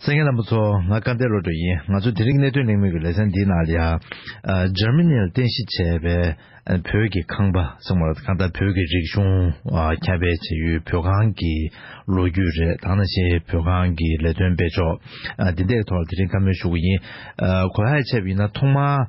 སེང་གེ་རྣམ་པ་ཚོ་ང་བཀའ་བསྟན་བློ་གྲོས་ཡིན་ང་ཚོ་དེ་རིང་གནད་དོན་གླེང་མུས་ཀྱི་ལེ་ཚན་འདིའི་ནང་ལ་ཡང Germany ལ་རྟེན་གཞི་བྱས་པའི་བོད་ཀྱི་ཁང་པ་གསུངས་པ་གང་ལྟར་བོད་ཀྱི་རིག་གཞུང་ཁྱབ་སྤེལ་བྱེད་ཡུལ་བོད་ཁང་གི་ལོ་རྒྱུས་རེད་དང་ནང་བཞིན་བོད་ཁང་གི་ལས་དོན་སྤེལ་ཕྱོགས་འདི་འདྲའི་ཐོག་ལ་དེ་རིང་བཀའ་མོལ་ཞུ་གི་ཡིན་གོ་ཧའེ་ཆེབ་ཡིན་ན་ཐོག་མར།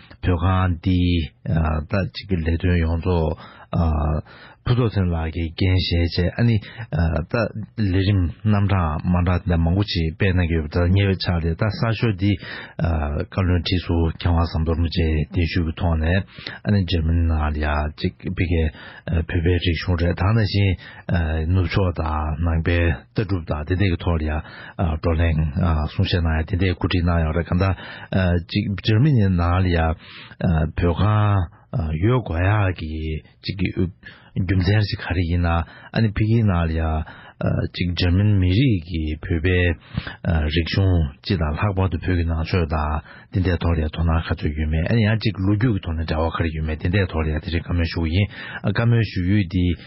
བོད་ཁང་འདིའི་ད་ཅིག་གི་ལས་དོན་ཡོངས་རྫོགས་ཕུན་ཚོགས་ཚེ་རིང་ལགས་ཀྱིས་འགན་བཞེས་རྗེས་ཨ་ནི་ད་ལས་རིམ་རྣམ་གྲངས་མང་དག་འདི་འདྲ་མང་པོ་ཅིག་སྤེལ་གནང་གི་ཡོད་པ་དང་ཉེ་བའི་ཆར་དེ་ད་གསར་ཤོག་འདིའི་བཀའ་བློན་ཁྲི་ཟུར་མཁས་དབང་ཟམ་གདོང་རིན་ཆེན་གདན་ཞུས་ཀྱི་ཐོག་ནས་ཨ་ནི་འཇར་མན་ནང་ལ་ཅིག་སྤེལ་གལ་བོད་པའི་རིག་གཞུང་རེ་དང་ད་བཞིན་ནུབ་ཕྱོགས་དང་ནང་པའི་ལྟ་གྲུབ་དང་དེ་འདྲའི་ཐོག་ལ་ཡང་བགྲོ་གླེང་གསུང་བཤད་གནང་ཡང་དེ་འདྲའི་འགོ་ཁྲིད་གནང་ཡོང་རེ་གང་ལྟར་ཅིག་འཇར་མི་ནི་ནང་ལ་ཡང་བོད་ཁང་ཡོད་དགོས་ཡ་གི་ཅིག་རྒྱུ་མཚན་ཞིག་ག་རེ་ཡིན་ན་ཨ་ནི་ཕི་གིའི་ནང་ལ་ཡང་ཅིག་འཇར་མན་མི་རིགས་ཀྱི་བོད་པའི་རིག་གཞུང་སྤྱི་དང་ལྷག་པར་དུ་བོད་ཀྱི་ནང་ཆོས་དང་དེ་འདྲའི་ཐོག་ལ་ཡང་དོ་སྣང་ག་ཚོད་ཡོད་མེད་ཨ་ནི་ཡང་ཅིག་ལོ་རྒྱུས་ཀྱི་ཐོག་ནས་འདྲ་བ་ག་རེ་ཡོད་མེད་དེ་འདྲའི་ཐོག་ལ་ཡང་དེ་རིང་བཀའ་མོལ་ཞུ་ཡིན་བཀའ་མོལ་ཞུ་ཡུལ་འདི་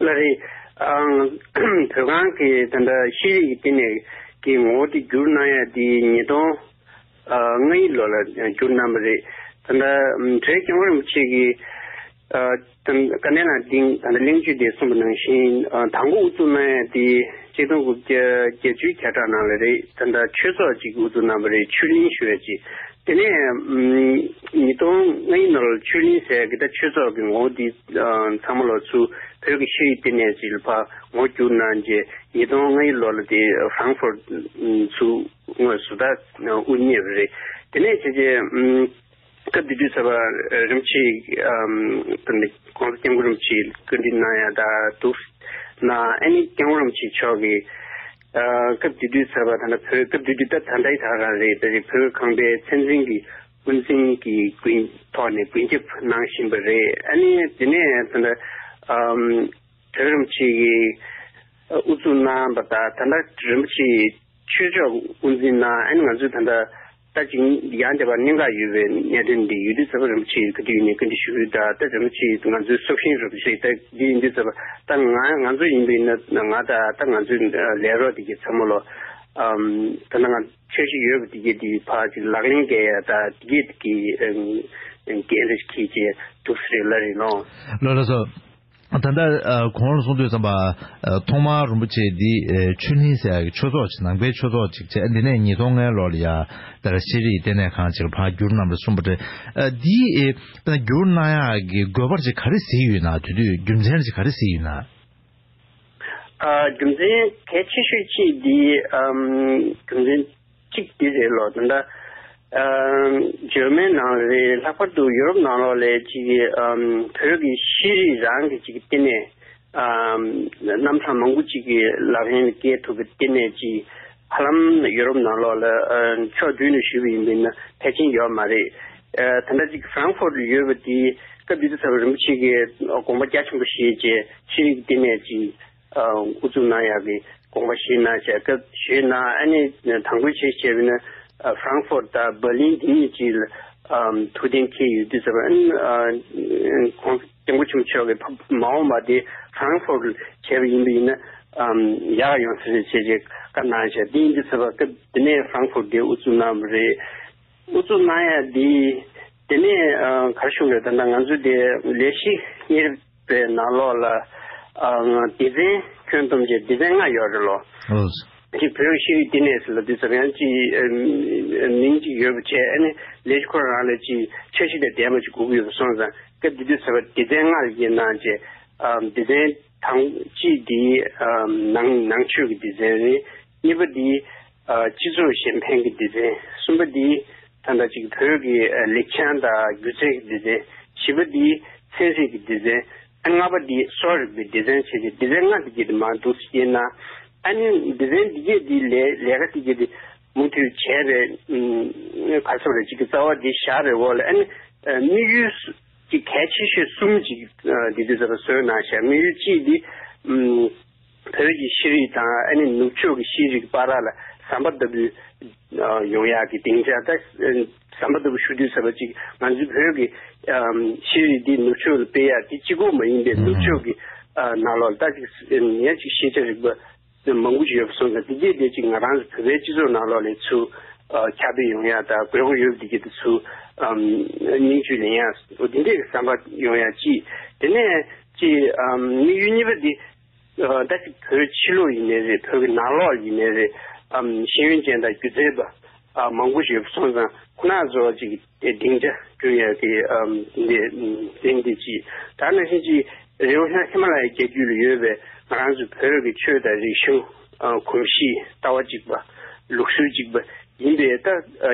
ལ་རེ། བོད་ཁང་གི་དེ་འདྲ་ཤེས་རིག་གི་སྟེང་ནས་ཀྱི་ངོ་བོ་དེ་བསྒྱུར་གནང་ཡ་དེ་ཉིས་སྟོང་ལྔ་ཡི་ལོ་ལ་བསྒྱུར་གནང་བ་རེད། དེ་འདྲ་བྲེ་སྐྱོང་རིན་པོ་ཆེ་གི་བཀའ་ནན་ལ་སྟེང་དེ་འདྲ་གླེང་བརྗོད་དེ་གསུངས་པ་ནང་བཞིན་དང་པོ་དབུ་བཙུགས་གནང་ཡ་དེ་གཅིག་སྟོང་དགུ་བརྒྱ་བརྒྱད་ཅུའི་གྱ་གྲངས་ནང་ལ་རེད་དེ་འདྲ་ཆོས་ཚོགས་གཅིག་དབུ་བཙུགས་གནང་བ་རེད་ཆོས་གླིང་ཞུ་བ་ཅིག་དེ་ནས་ཉིས་སྟོང་ལྔ་ཡི་ནོར་ཆོས་གླིང་ཟེར་དགེ་རྩ་ཆོས་ཚོགས་ཀྱི་ངོ་བོ་འདི་ཚང་མ་ལོ་ཚུགས་བོད་ཀྱི་ཤེས་རིག་ལྟེ་གནས་ཀྱི་ཕ་ངོ་བསྒྱུར་གནང་རྗེས་ཉིས་སྟོང་ལྔ་ཡི་ལོ་ལ་དེ Frankfurt ཚུགས་ངོས་སུ་དར་དབུ་བརྙེས་པ་རེད། དེ་ནས་བྱས་རྗེས་སྐབས་དེ་དུས་ཚེ་དཔག་རིན་པོ་ཆེས ྋགོང་ས་སྐྱབས་མགོན་རིན་པོ་ཆེའི་བཀའ་དྲིན་གནང་ཡང་དག་འདུག ྋསྐྱབས་མགོན་རིན་པོ་ཆེ་མཆོག་གིས། སྐབས་དེ་དུས་ཟེར་བ་ད་ནི་བོད་སྐབས་དེ་དུས་ད་ད་ལྟའི་ད་ག་རེད་ད་རེད་བོད་ཁང་པའི་མཚན་འཛིན་གྱི་དབུ་འཛིན་གྱི་དགུན་ཐོག་ནས་དགུན་སྐྱབས་གནང་བཞིན་པ་རེད་ཨ་ནི་དེ་ནས་ད་ནི་བོད་རིན་པོ་ཆེ་གི་དབུ་བཙུགས་གནང་བ་ད་ད་ལྟ་རིན་པོ་ཆེའི་ཆོས་ཕྱོགས་དབུ་འཛིན་གནང་ཨ་ནི་ང་ཚོས་ད་ལྟ། ལྟ་ཅི། ཡང་དེ་བར་གནད་འགག་ཡོད་པའི་གནད་དོན་འདི་ཡུལ་དུས་གསར་པ་རིན་པོ་ཆེའི་སྐུ་དུས་ནས་བཀའ་འདྲི་ཞུ་ཁུལ་དང་ལྟ་རིན་པོ་ཆེས་ང་ཚོའི་སྲོག་ཤིང་རུ་ཁག་ཞིག་ལྟ་རྒྱུ་ཡིན་དུས་གསར་པ་ལྟ་ང་ང་ཚོ་ཡིན་པའི་ན་ང་ལྟ་ལྟ་ང་ཚོའི་ལས་རོགས་དེ་གའི་ཚ་མོ་ལོ། ད་ནང་ཆོས་ཤིག་ཡོད་པ་དེ་གའི་དེའི་བར་ཅིག་ལག་ལེན་འགལ་ཡ་ད་དེ་གའི་དེ་གའི་འགན་རེ་ཞིག་ཁྱེད་ཀྱིས་སྡུག་ས་རེད་ལ་རེད་ནོ། ལོ་ལ་སོ། ད་ལྟ་གོང་ལ་གསུང་འདོད་བསམ་པ། ཐོག་མར་རིན་པོ་ཆེ་འདི་ཆོས་གླིང་ཟེར་ཡག་གི་ཆོས་ཚོགས་ནང་པའི་ཆོས་ཚོགས་ཅིག་བྱས་འདི་ནས་ཉིས་སྟོང་ལྔའི་ལོར་ལ་ཡར་དར་ཤེས་རིག་ལྟེ་གནས་ཁང་ཅིག་ལ་འཕགས་འགྱུར་གནང་བར་གསུངས་པ་རེད། འདི་འཕགས་འགྱུར་གནང་ཡག་གི་དགོས་པར་ཅིག་ག་རེ་གཟིགས་ཡོད་ན་དེ་དུས་རྒྱུ་མཚན་ཅིག་ག་རེ་གཟིགས་ཡོད་ན། རྒྱུ་མཚན་གལ་ཆེ་ཤོས་གཅིག་འདི་རྒྱུ་མཚན། གཅིག་དེ་རེད་ལོ། ད། German ནང་ལ་རེད། ལྷག་པར་དུ་ཡུ་རོབ་ནང་ལོགས་ལས་ཅིག་བོད་ཀྱི་ཤེས་རིག་རང་གི་ཅིག་བསྟི་གནས། རྣམ་གྲངས་མང་པོ་ཅིག་ལག་ལེན་བཀལ་ཐུབ་པའི་བསྟི་གནས་ཅིག་ཧ་ལམ་ཡུ་རོབ་ནང་ལོགས་ལ་ཕྱོགས་བསྡུས་ནས་ཞུས་པ་ཡིན་པས་ན་ཐལ་ཆེན་ཡོད་མ་རེད། ད་ལྟ་ཅིག Frankfurt ལ་ཡོད་པ་དེ་སྐབས་དེ་དུས་ཚ་བོ་རིན་པོ་ཆེ་གི་དགོངས་པ་རྒྱ་ཆེན་པོ་བཞེས་རྗེས་ཤེས་རིག་བསྟི་གནས་ཅིག་ཨུ་ཚུགས་གནང་ཡག་གི་དགོངས་པ་ཞུས་གནང་བྱས་སྐབས་ཞུས་གནང་ཨ་ནི་དང་པོའི་ཆེས་ཆེ་བའི་ནི Frankfurt དང Berlin དེ་གཉིས་ཀྱི་ལ་ཐུགས་གཏན་འཁེལ་ཡོད་དུས་ཟེར་བ་ཁོང་སྐྱབས་མགོན་ཆེན་པོ་མཆོག་གི་མ་འོངས་པ་དེ Frankfurt ལ་བྱས་པ་ཡིན་པ་ཡིན་ན་ཡག་ཡོང་ས་རེད་བྱས་བྱས་བཀའ་གནང་བྱས་དེ་ཡིན་དུས་ཟེར་བ་སྐབས་དེ་ནས Frankfurt དེ་ཨུ་ཚུགས་གནང་བ་རེད་ཨུ་ཚུགས་གནང་ཡག་དེ་དེ་ནས་གར་བཞུགས་རེད་ད་ནང་ང་ཚོ་དེ་ལས་གཞི་གཉེར། པའི་ནང་ལོགས་ལ་སྡེ་ཚན་ཁྱོན་བསྡོམས་བཅས་སྡེ་ཚན་ལྔ་ཡོད་རེད་ལོ། གཅིག་བོད་རིགས་ཤེས་རིག་བསྟི་གནས་སུ་ལ་དུས་འཛམ་གཡང་སྤྱི་མིང་གཅིག་ཡོད་པ་བཅས་ཨེ་ནི་ལས་ཤི་ཁོ་རང་ལ་ཅི་ཆ་ཤི་ལས་འདས་མ་ཅི་སྒུག་གི་ཡོད་པ་སོང་ཙང་སྐབས་དེ་དུས་ཟེར་བ་སྡེ་ཚན་ལྔ་ཡི་ནང་བཅས་སྡེ་ཚན་དང་སྤྱི་དེའི་ནང་ནང་ཆོས་ཀྱི་སྡེ་ཚན་རེད། གཉིས་པ་དེ། སྤྱི་ཚོགས་གཞན་ཕན་གྱི་སྡེ་ཚན། གསུམ་པ་དེ། ད་ལྟ་གཅིག་བོད་ཀྱི་ལེགས་བྱང་དང་སྒྱུ་རྩལ་གྱི་སྡེ་ཚན། བཞི་པ་དེ། ཚན་རྩིས་ཀྱི་སྡེ་ཚན། ལྔ་པ་དེ། གསོ་རིག་པའི་སྡེ་ཚན་བྱས་ཏེ་སྡེ་ཚན་ལྔ་འདི་བརྒྱད་དུ་མ་འདུ་ཞེས་ན། ཨ་ནི་སྡེ་ཚན་འདི་བརྒྱད་དེའི་ལས་ལས་ཀ་དེ་བརྒྱད་དེ་མུ་མཐུད་བྱས་པའི་བར་ཚོ་རེ་གཅིག་གི་རྩ་བ་དེ་བཞག་པའི་འོག་ལ་ཨ་ནི་དམིགས་ཡུལ། གལ་ཆེ་ཤོས་གསུམ་ཅིག་འདི་འདི་ཙམ་བཟོས་ན་ཞེ་དམིགས་ཡུལ་གཅིག་དེ། བོད་ཀྱི་ཤེས་རིག་དང་ཨ་ནི་ནུབ་ཕྱོགས་ཀྱི་ཤེས་རིག་པ་ར་ལ་ཟམ་པ་ལྟ་བུའི་ཡོང་ཡག་གི་སྡིངས་ཆ་དེ་ཟམ་པ་ལྟ་བུ་ཞུ་དུས་ཟབ་པ་ཅིག་ང་ཚོའི་བོད་ཀྱི་ཤེས་རིག་འདི་ནུབ་ཕྱོགས་ལ་སྤེལ་ཡག་དེ་སྤྱི་ཁོག་མ་ཡིན་པའི་ནུབ་ཕྱོགས་ཀྱི་ནག་ལོག་ལྟ་ཅིག་ཉག་ཅིག་ཤེས་བྱ་རིག་པ་མང་པོ་ཞིག་ཡོད་པ་སོང་ཙང་དེ་རྗེས་དེ་ཅིག་ང་རང་ཚོ་བོད་པའི་སྤྱི་ཚོགས་ནང་ལོག་ལས་ཚུ་ཁྱབ་སྤེལ་ཡོང་ཡག་དང་དགོས་མཁོ་ཡོད་དེ་གྱེས་དེ་ཚུ་སྙིང་བཅུད་ལེན་ཡག་འདི་འདྲས་ཀྱི་ཟམ་པ་ཡོང་ཡག་ཅིག་དེ་ནས་ཅིག་དམིགས་ཡུལ་གཉིས་པ་འདི། ད་ཅི་བོད་ཕྱི་ལོགས་ཡིན་ནའི་རེད་བོད་ཀྱི་ནང་ལོགས་ཡིན་ནའི་རེད་དམ་ཤེས་ཡོན་ཅན་དང་སྒྱུ་རྩལ་པ་མང་པོ་ཞིག་སོང་ཙང་ཁོ་ན་ཚོ་ཅིག་སྡིངས་ཆ་བསྐྲུན་ཡ་གི་འདི་འདི་འདི་ཅི་ད་ནང་བཞིན་ཅིག་རེའུ་ཤང་ཧི་མ་ལ་ཡའི་རྒྱལ་རྒྱུད་ལ་ཡོད་པའི་ང་རང་ཚོའི་བོད་ཀྱི་ཆོས་དང་རིག་གཞུང། གོམས་གཤིས་ལྟ་བ་གཅིག་པ། ལུགས་སྲོལ་གཅིག་པ་ཡིན་པས་ད་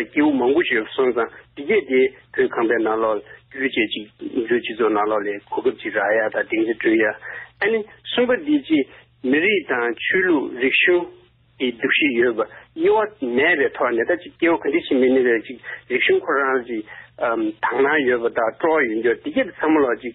སྐྱེ་བོ་མང་པོ་ཞིག་ལ་སོང་ཙང་འདི་སྐད་དེ་བོད་ཁམས་པའི་ནང་ལོག་ལ་རྒྱུ་བྱས་ཅིག་མཛོད་སྤྱི་ཚོགས་ནང་ལོག་ལས་གོ་སྐབས་ཅིག་རག་ཡ་དང་སྡིངས་ཆ་བསྐྲུན་ཡ། ཨ་ནི་གསུམ་པ་འདི་ཅི་མི་རིགས་དང་ཆོས་ལུགས་རིག་གཞུང་གི་འདུ་ཤེས་ཡོད་པ་དབྱེ་བ་མེད་པའི་ཐོག་ནས་ད་ཅི་སྐྱེ་བོ་ག་འདྲི་ཞིག་མི་ནི་རེ་ཅིག་རིག་གཞུང་ཁོ་རང་ཅིག་དག་སྣང་ཡོད་པ་དག་སྤྲོ་བ་ཡོད་འགྱོ་འདི་སྐད་དུ་ཚ་མོ་ལོག་ཅིག།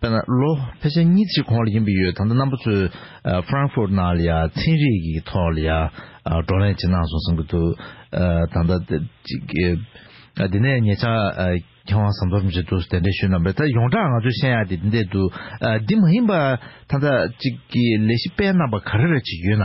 དཔེར་ན་ལོ་ཕལ་ཆེར་གཉིས་གཅིག་གོང་ལ་ཡིན་པ་ཡོད་ད་ལྟ་རྣམ་པ་ཚོས Frankfurt ནང་ལ་ཡང་ཚན་རིག་གི་ཐོག་ལ་ཡང་བགྲོ་གླེང་བྱེད་གནང་སོང་བསམ་གྱི་འདུག་ད་ལྟ་འདི་ནས་ངེད་ཅག་མཁས་དབང་ཟམ་གདོང་རིན་པོ་ཆེ་ཐུགས་སུ་གདན་འདྲེན་ཞུས་གནང་བས་ད་ཡོངས་གྲགས་ང་ཚོའི་བཤད་ཡག་དེ་འདི་འདྲས་འདུག་འདི་མ་ཡིན་པ་ད་ལྟ་ཅིག་གི་ལས་གཞི་སྤེལ་གནང་བ་ག་རེ་རེ་ཅིག་ཡོད་ན།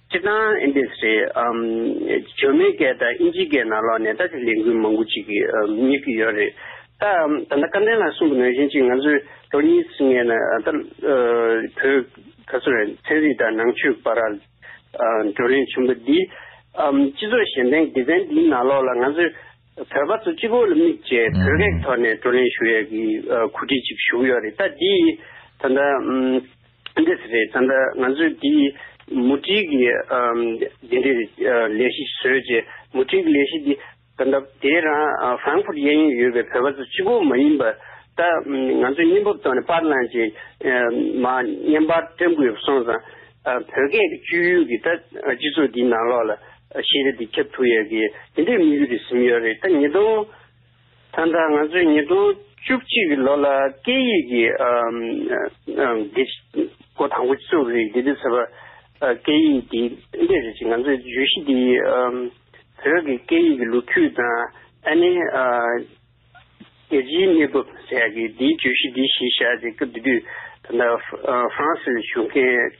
སྤྱིར་བཏང་ཨིན་དིས་རེད། ཇོ་མེ་ཀེ་དང་ཨིན་ཇི་ཀེ་ནང་ལོགས་ནས་ད་ཆ་ལས་འགུལ་མང་པོ་ཅིག་རྙེད་ཀྱི་ཡོད་རེད། ད་ད་ལྟ་བཀའ་བསྟན་ལ་གསུངས་པ་ནང་བཞིན་ཅིག་ང་ཚོས་ལོ་གཉིས་ཟིན་ངེས་ན་ད་བོད་ད་གཟོད་ཚན་རིག་དང་ནང་ཆོས་པ་ར་བགྲོ་གླེང་ཆེན་པོ་འདིས་སྤྱི་ཚོགས་གཞན་སྟེང་སྡེ་ཚན་འདིའི་ནང་ལོགས་ལ་ང་ཚོས་བོད་པ་ཚོ་སྤྱི་བོ་ལ་དམིགས་བཅས་བོད་སྐད་ཐོག་ནས་བགྲོ་གླེང་ཞུ་ཡས་ཀྱི་གོ་སྒྲིག་ཅིག་ཞུ་གི་ཡོད་རེད་ད་འདིས་ད་ལྟ། འདི་ཟེར་རེད་ད། ང་ཚོས་འདི་མུ་སྒྲིག་གི་འདི་འདྲའི་ལས་གཞི་བཟོས་རྗེས་མུ་སྒྲིག་ལས་གཞི་འདི་ད་ལྟ་དེ་རང་ཧྥ་རན་ཕུར་གཡས་གཡོན་ཡོད་པའི་བོད་པ་ཚོ་སྤྱི་བོ་མ་ཡིན་པ་ད་ང་ཚོས་སྙིང་པོར་བཏོན་ནས་དཔར་བླངས་རྗེས་མ་བརྙན་དཔར་བཀྲམ་དགོས་པ་སོང་ཙང་བོད་སྐད་ཀྱི་སྤྱོད་ཡུལ་གྱི་ད་སྤྱི་ཚོགས་འདིའི་ནང་ལོགས་ལ་ཤེས་རིག་འདི་ཁྱབ་ཐུབ་ཡས་གི་འདི་འདྲའི་དམིགས་ཡུལ་རེ་ཟིན་ཡོད་རེད་ད་ཉིས་སྟོང། ད་ལྟ་ང་ཚོས་ཉིས་སྟོང་བཅུ་གཅིག་ལོ་ལ་སྐད་ཡིག་གི་དགེ་སྐོར་དང་པོ་བཙུགས་རིགས་དགེ་འདུན་ཚོ་པ་སྐད་ཡིག་དེ་ཕན་འབྲས་རེད་ཅེས་ང་ཚོས་བརྗོད་གཞི་དེ་བོད་ཀྱི་སྐད་ཡིག་གི་ལོ་རྒྱུས་དང་ཨ་ནེ་རྒྱལ་སྤྱིའི་གནས་བབ་ཟེར་ཡག་གི་དེའི་བརྗོད་གཞི་དེ་གཞི་བཞག་ཅེས་སྐབས་དེ་དུས་ད་ལྟ་ཧྥ་རན་སིར་བཞུགས་མཁན་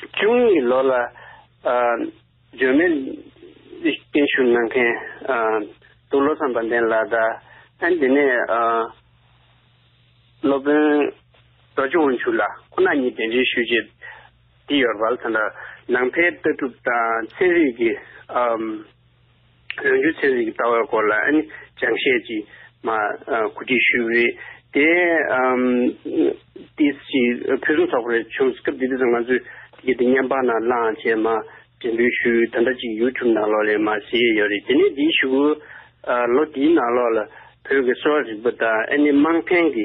བཅུ་གཉིས་ལོ་ལ་འཇོན་མེད་བརྟན་བཞུགས་གནང་མཁན་དུ་ལོ་ཚངས་པ་འདན་ལགས་དང་དེ་ནས་སློབ་དཔོན་རྡོ་རྗེ་དབང་ཕྱུག་ལགས་ཁོ་ན་གཉིས་གདན་འདྲེན་ཞུས་རྗེས་དེ་ཡོལ་བར་ད་ནང་པའི་ལྟ་གྲུབ་དང་ཚན་རིག་གི་ལོ་རྒྱུས་ཚན་རིག་གི་ལྟ་བའི་སྐོར་ལ་སྦྱང་བཤད་ཀྱིས་གོ་སྒྲིག་ཞུས་པ་རེད། དེ་དུས་ཀྱི་ཕུན་སུམ་ཚོགས་པ་རེ་བྱུང་སྐབས་དེ་དུས་སུ་ང་ཚོས་དེ་གའི་སྙན་པང་ནང་བླངས་བྱས་མ་འགྲེམས་འབུལ་ཞུས་ད་ལྟ་ཅིག YouTube ནང་ལོགས་ལས་མ་ཟིན་ཡོད་རེད། དེ་ནས་དེའི་ཞུ་སྒོའི་ལོ་དེའི་ནང་ལོགས་ལ་བོད་ཀྱི་གསོ་བ་རིག་པ་དང་ཨ་ནི་དམངས་ཕན་གྱི་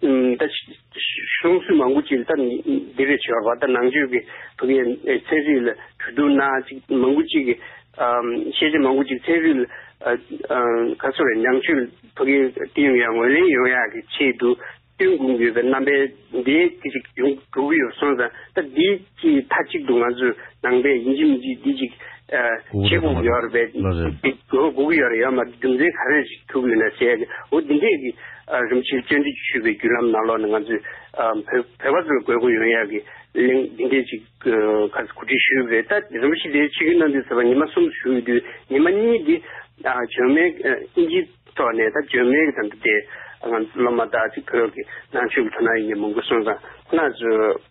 ད་གཞུང་སྲིད་མང་པོ་ཅིག་ད་འདི་རེ་བྱས་པ་ད་ནང་ཆོས་ཀྱི་བུ་གའི་ཚན་རིག་ལ་གྲོས་བསྡུར་ན་ཅིག་མང་པོ་ཅིག་གིས་ཤེས་བྱ་མང་པོ་ཅིག་ཚན་རིག་ལ་ག་ཚོད་རེད་ནང་ཆོས་བུ་གའི་བསྟན་ཡོད་ཡ་ངོས་ལེན་ཡོད་ཡ་གི་ཆེད་དུ་བསྟུན་དགོངས་ཡོད་པའི་རྣམ་པའི་འདི་ཅིག་ཡོང་གྲུབ་ཡོད་སོང་ཙང་ད་འདི་ཀྱིས་མཐའ་གཅིག་ཏུ་ང་ཚོའི་ནང་པའི་ཡིན་གཅིག་མིན་གཅིག་འདི་གཅིག་བྱེད་དགོས་ཡོད་རེད་པས། དགོས་ཀྱི་ཡོད་རེད་ཡོད་མ་རྒྱུ་མཚན་ག་རེ་ཞིག་ཐུག་ཡོད་ན་བཤད་དགོས་འོ་འདི་འདྲས་ཀྱི་རིམ་བྱེད་བཅོས་འདྲི་ཞུས་པའི་བརྒྱུད་ལམ་ནང་ལོགས་ནས་ང་ཚོས་བོད་པ་ཚོས་དགོས་མཁོ་ཡོད་ཡག་གི་གླེང་འདི་འདྲས་ཅིག་ག་གོ་སྒྲིག་ཞུས་པ་རེད་ད་རིམ་པ་ཞིག་དེའི་ཕྱི་གི་གནང་འདི་ཟེར་བ་ཉི་མ་གསུམ་དུ་ཞུས་དུས་ཉི་མ་གཉིས་འདི་བྱོལ་མེད་ཨིན་ཇི་ཐོག་ནས་ད་བྱོལ་མེད་ཀྱི་དང་དུ་དེ་སློབ་མ་དག་ཅིག་བོད་ཀྱི་ནང་ཆོས་ཀྱི་ཐོག་ནང་ཡིན་གྱི་མང་པོ་གསུངས་དང་ཁོ་ན་ཚོས།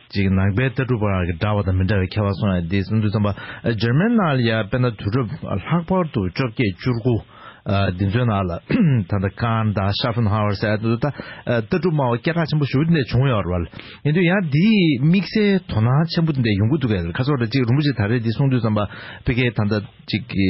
ཅིག་ནང་པའི་ལྟ་གྲུབ་བར་གྱི་འདྲ་བ་དང་མི་འདྲ་བའི་ཁྱད་པར་སོང་ཡང་དེའི་སིམ་འཛུལ་ཙམ་པ་འཇར་མན་ནང་ལ་ཡང་དཔེར་ན་དུས་རབས་ལྷག་པར་དུ་བཅོ་བརྒྱད་བཅུར་དགུ་འདི་ཚོའི་ནང་ལ་ད་ལྟ་ཀཱན་དང་ཤཱ་ཕུན་ཧྭ་ཝར་སའི་ལྟ་གྲུབ་སྨྲ་བ་སྐད་གྲགས་ཆེན་པོ་ཞུ་བ་འདི་འདྲ་བྱུང་ཡོད་རེད་བ། ཡིན་དུས་ཡང་དེའི་དམིགས་བསལ་དོ་སྣང་ཆེན་པོ་འདི་འདྲ་ཡོང་གི་འདུག་གས་ཁ་སོ་ར་ཅིག་རིན་པོ་ཆེས་ད་རེས་འདི་གསུངས་དུས་ཙམ་པ་ཕི་ཁེ་ད་ལྟ་ཅིག་གི།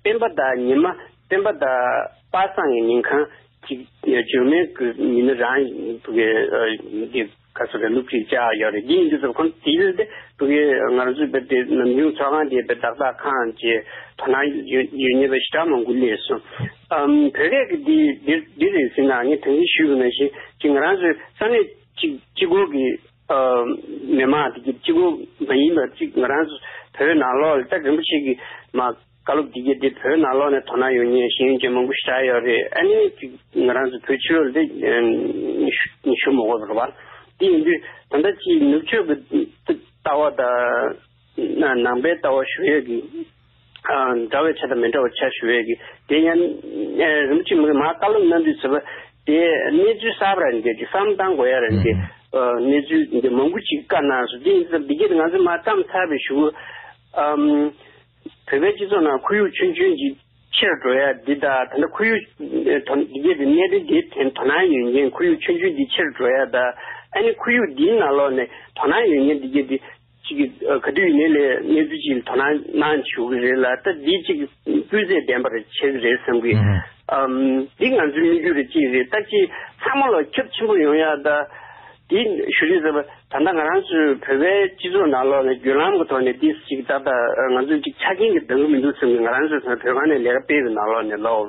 སྤེན་པ་བདག་ཉི་མ་སྤེན་པ་བདག་པ་སངས་ཀྱི་མིང་གང་གཅིག་འགྱུར་མེད་ཀྱི་མི་ནི་རང་གི་གི་ག་སོ་ག་སློབ་ཁྲིད་བྱ་ཡོད་རེད་འདི་ཡིན་དུས་ཚོད་ཁོང་དེ་ཡོད་དེ་བུ་གི་ང་རང་ཚོའི་བོད་དེ་ནམ་རྒྱུན་ཚོགས་ཁང་དེ་བོད་བདག་ཟ་ཁང་གྱི་དོ་ན་ཡོད་ཡོད་ཉེ་བའི་ཞི་དྲག་མང་པོ་ལས་སོ་བོད་སྐད་གི་འདི་འདི་འདི་རེད་ཟེར་ན་ངས་དང་གི་ཞུས་གི་ན་ཞིག་ཅིག་ང་རང་ཚོའི་ས་གནས་གཅིག་གཅིག་གོ་གི། མི་དམངས་བདེ་སྐྱིད་སྤྱི་བོ་མ་ཡིན་པ་གཅིག་ང་རང་བོད་ནང་ལོག་ལ་སྟག་རིན་པོ་ཆེ་གི་མ་བཀའ་སློབ་བདེ་སྐྱིད་དེ་བོད་ནང་ལོག་ནས་དོ་སྣང་ཡོང་ཉེ་ཞིང་ཡོན་ཅན་མང་པོ་བཞག་ཡོད་རེད་ཨ་ནི་ང་རང་ཚོ་བོད་ཕྱི་ལོག་ལ་དེ་ཞུ་མི་དགོས་པ་རེད་བ་དེ་ཡིན་དུས་ད་ལྟ་ཕྱིའི་ནུབ་ཕྱོགས་ཀྱི་ལྟ་བ་དང། ནང་པའི་ལྟ་བ་ཞུ་ཡོད་ཀྱི། འདྲ་བའི་ཆ་དང་མི་འདྲ་བའི་ཆ་ཞུ་ཡོད་ཀྱི། དེ་ཡན་རིན་པོ་ཆེ་མི་མ་བཀའ་སློབ་གནང་དུས་ཚོད་པ་དེ་གནས་ཚུལ་གསར་པ་རང་འགལ་གྱི་བསམ་བཏང་དགོས་ཡ་རང་འགལ་གནས་ཚུལ་འདི་མང་པོ་ཅིག་བཀའ་གནང་སོང་དེ་ཡིན་ཙང་འདི་གྱེས་ཏེ་ང་ཚོས་མ་བརྩམས་ཚར་བའི་ཞུ་བོད་པའི་སྤྱི་ཚོགས་ནང་ཁོར་ཡུག་ཆུན་ཆུན་གྱི་ཕྱིར་འགྲོ་ཡ་འདི་དང་ད་ལྟ་ཁོར་ཡུག་འདི་གྱེས་ཏེ་གནས་འབྲེལ་འདིའི་ཐད་དོ་སྣང་ཡོད་མཁན་ཁོར་ཡུག་ཆུན་ཆུན་འདི་ཕྱིར་འགྲོ་ཡ་དང་ཨ་ནི་ཁོར་ཡུག་འདིའི་ནང་ལོགས་ནས་དོ་སྣང་ཡོད་མཁན་འདི་གྱེས་ཏེ། གཅིག་གི་དུས་ཡིན་ལས་གནས་ཚུལ་གཅིག་དོ་སྣང་གནང་བྱུང་གི་རེད་ལ་ད་འདི་གཅིག་སྤུས་ཚད་ལྡན་པར་བྱེད་ཀྱི་རེད་བསམ་གི། འདི་ང་ཚོའི་དམིགས་ཡུལ་རེད་ཅིག་རེད་ལྟ་ཅི་ཚང་མ་ལ་ཁྱབ་ཆེན་པོ་ཡོང་ཡ་ད། འདི་ཞུ་རིག་ཟེར་བ་ད་ལྟ་ང་རང་ཚོའི་བོད་པའི་སྤྱི་ཚོགས་ནང་ལོག་ནས་བརྒྱུད་ལམ་གྱི་ཐོག་ནས་འདི་གཅིག་ཏག་ཏག་ང་ཚོ་གཅིག་ཆ་རྐྱེན་གྱི་འདང་གི་མི་འདུག་བསམ་གི་ང་རང་ཚོའི་བོད་ཁང་ནས་ལས་ཀ་སྤེལ་གི་ནང་ལོག་ནས་ལོག།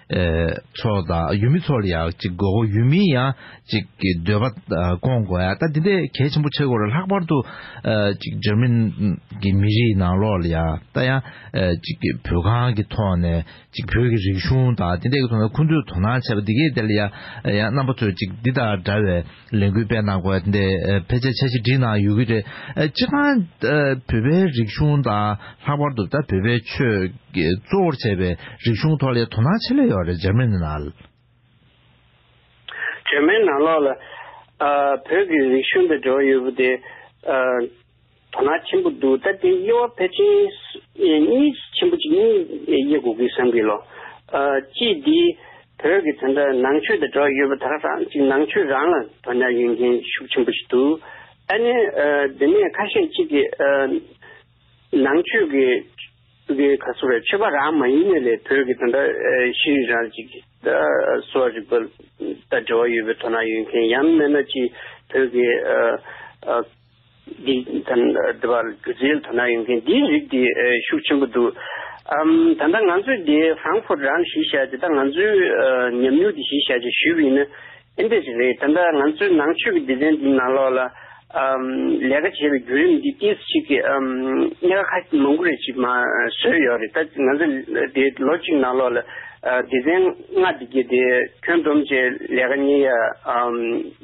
ཚོགས་དང་ཡུལ་མི་ཚོ་ལ་ཡང་ཅིག་དགོས་སྐོར་ཡུལ་མིའི་ཡང་ཅིག་གི་འདོད་པ་སྐོང་དགོས་ཡ་ད་འདི་འདྲའི་གལ་ཆེན་པོ་ཆེ་སྐོར་ལ་ལྷག་པར་དུ་ཅིག་འཇར་མན་གྱི་མི་རིགས་ནང་ལོགས་ལ་ཡང་ད་ཡང་ཅིག་བོད་ཁང་གི་ཐོག་ནས་ཅིག་བོད་ཀྱི་རིག་གཞུང་དང་འདི་འདྲའི་གི་ཐོག་ནས་ཁུ་འདུས་དོ་སྣང་བྱས་པ་འདི་གའི་དེ་ལ་ཡང་ཡང་རྣམ་པ་ཚོས་ཅིག་འདི་དང་འདྲ་བའི། ལས་འགུལ་སྤེལ་གནང་དགོས་པ་དེ་ཕལ་ཆེར་འཆར་གཞི་འགྲིག་གནང་ཡོད་ཀྱི་རེད། སྤྱིར་བཏང་བོད་པའི་རིག་གཞུང་དང་ལྷག་པར་དུ་བོད་པའི་ཆོས་གཙོ་བོར་བྱས་པའི་རིག་གཞུང་ཐོག་ལས་དོ་སྣང་ཆེ་ལེ་ཡོད་རེད་འཇར་མན་ནང་ལ། འཇར་མན་ནང་ལོགས་ལ་བོད་ཀྱི་རིག་གཞུང་དུ་འགྲོ་ཡོད་པོ་དེ། དོ་སྣང་ཆེན་པོ་འདུག་ད་དེ་དབྱེ་བ་ཕལ་ཆེན། གཉིས་ཆེན་པོ་གཅིག་གཉིས་དབྱེ་དགོས་ཀི་བསམ་གི་ལོ། གཅིག་འདི་བོད་ཀྱི་དེ་འདྲ་ནང་ཆོས་དང་འབྲེལ་བ་ཡོད་པ་དག་རང་གཅིག་ནང་ཆོས་རང་ལ་དོ་སྣང་ཡོད་མཁན་ཤུགས་ཆེན་པོ་ཞིག་འདུག་ཨ་ནི་དེ་ནས་ཁ་ཤས་གཅིག་གི། ནང་ཆོས་ཀྱི་གི་ག་ཚོད་རེད་ཆོས་པ་རང་མ་ཡིན་ནས་ལས་བོད་ཀྱི་དེ་འདྲ་ཤེས་རིག་རང་གཅིག་ད་གསོ་བ་རིག་པ་དང་འབྲེལ་བ་ཡོད་པའི་དོ་སྣང་ཡོད་མཁན་ཡང་མེད་ན་གཅིག་བོད་ཀྱི། འདི་དང་འདི་བར་སྒྱུ་རྩལ་དོ་སྣང་ཡོད་མཁན་འདིའི་རིགས་དེ་ཤུགས་ཆེན་པོ་འདུག་ཨམ། ད་ལྟ་ང་ཚོས་འདི Frankfurt རང་གཞིས་བཞག་དེ་དག་ང་ཚོའི་ཉམས་མྱོང་དེ་གཞིས་བཞག་ཅིག་ཞུས་པ་ཡིན་ན་ཨེ་འདྲ་ཅིག་རེད། ད་ལྟ་ང་ཚོའི་ནང་ཆོས་ཀྱི་སྡེ་ཚན་འདི་ནང་ལོགས་ལ་ཨམ། ལས་ཀ་བྱེད་པའི་བརྒྱུད་རིམ་འདི་ཏིས་ཤིག་གིས་ཨམ། གནད་ཀ་ཁ་མང་པོ་རེ་ཞིག་མ་བཟོས་ཡོད་རེད་ད། ང་ཚོ་འདི་ལོ་གཅིག་ནང་ལོགས་ལ་སྡེ་ཚན་ལྔ་འདི་བརྒྱད་དེ་ཁྱོན་བསྡོམས་བཅས་ལས་ཀ་གཉིས་ཡ་ཨམ།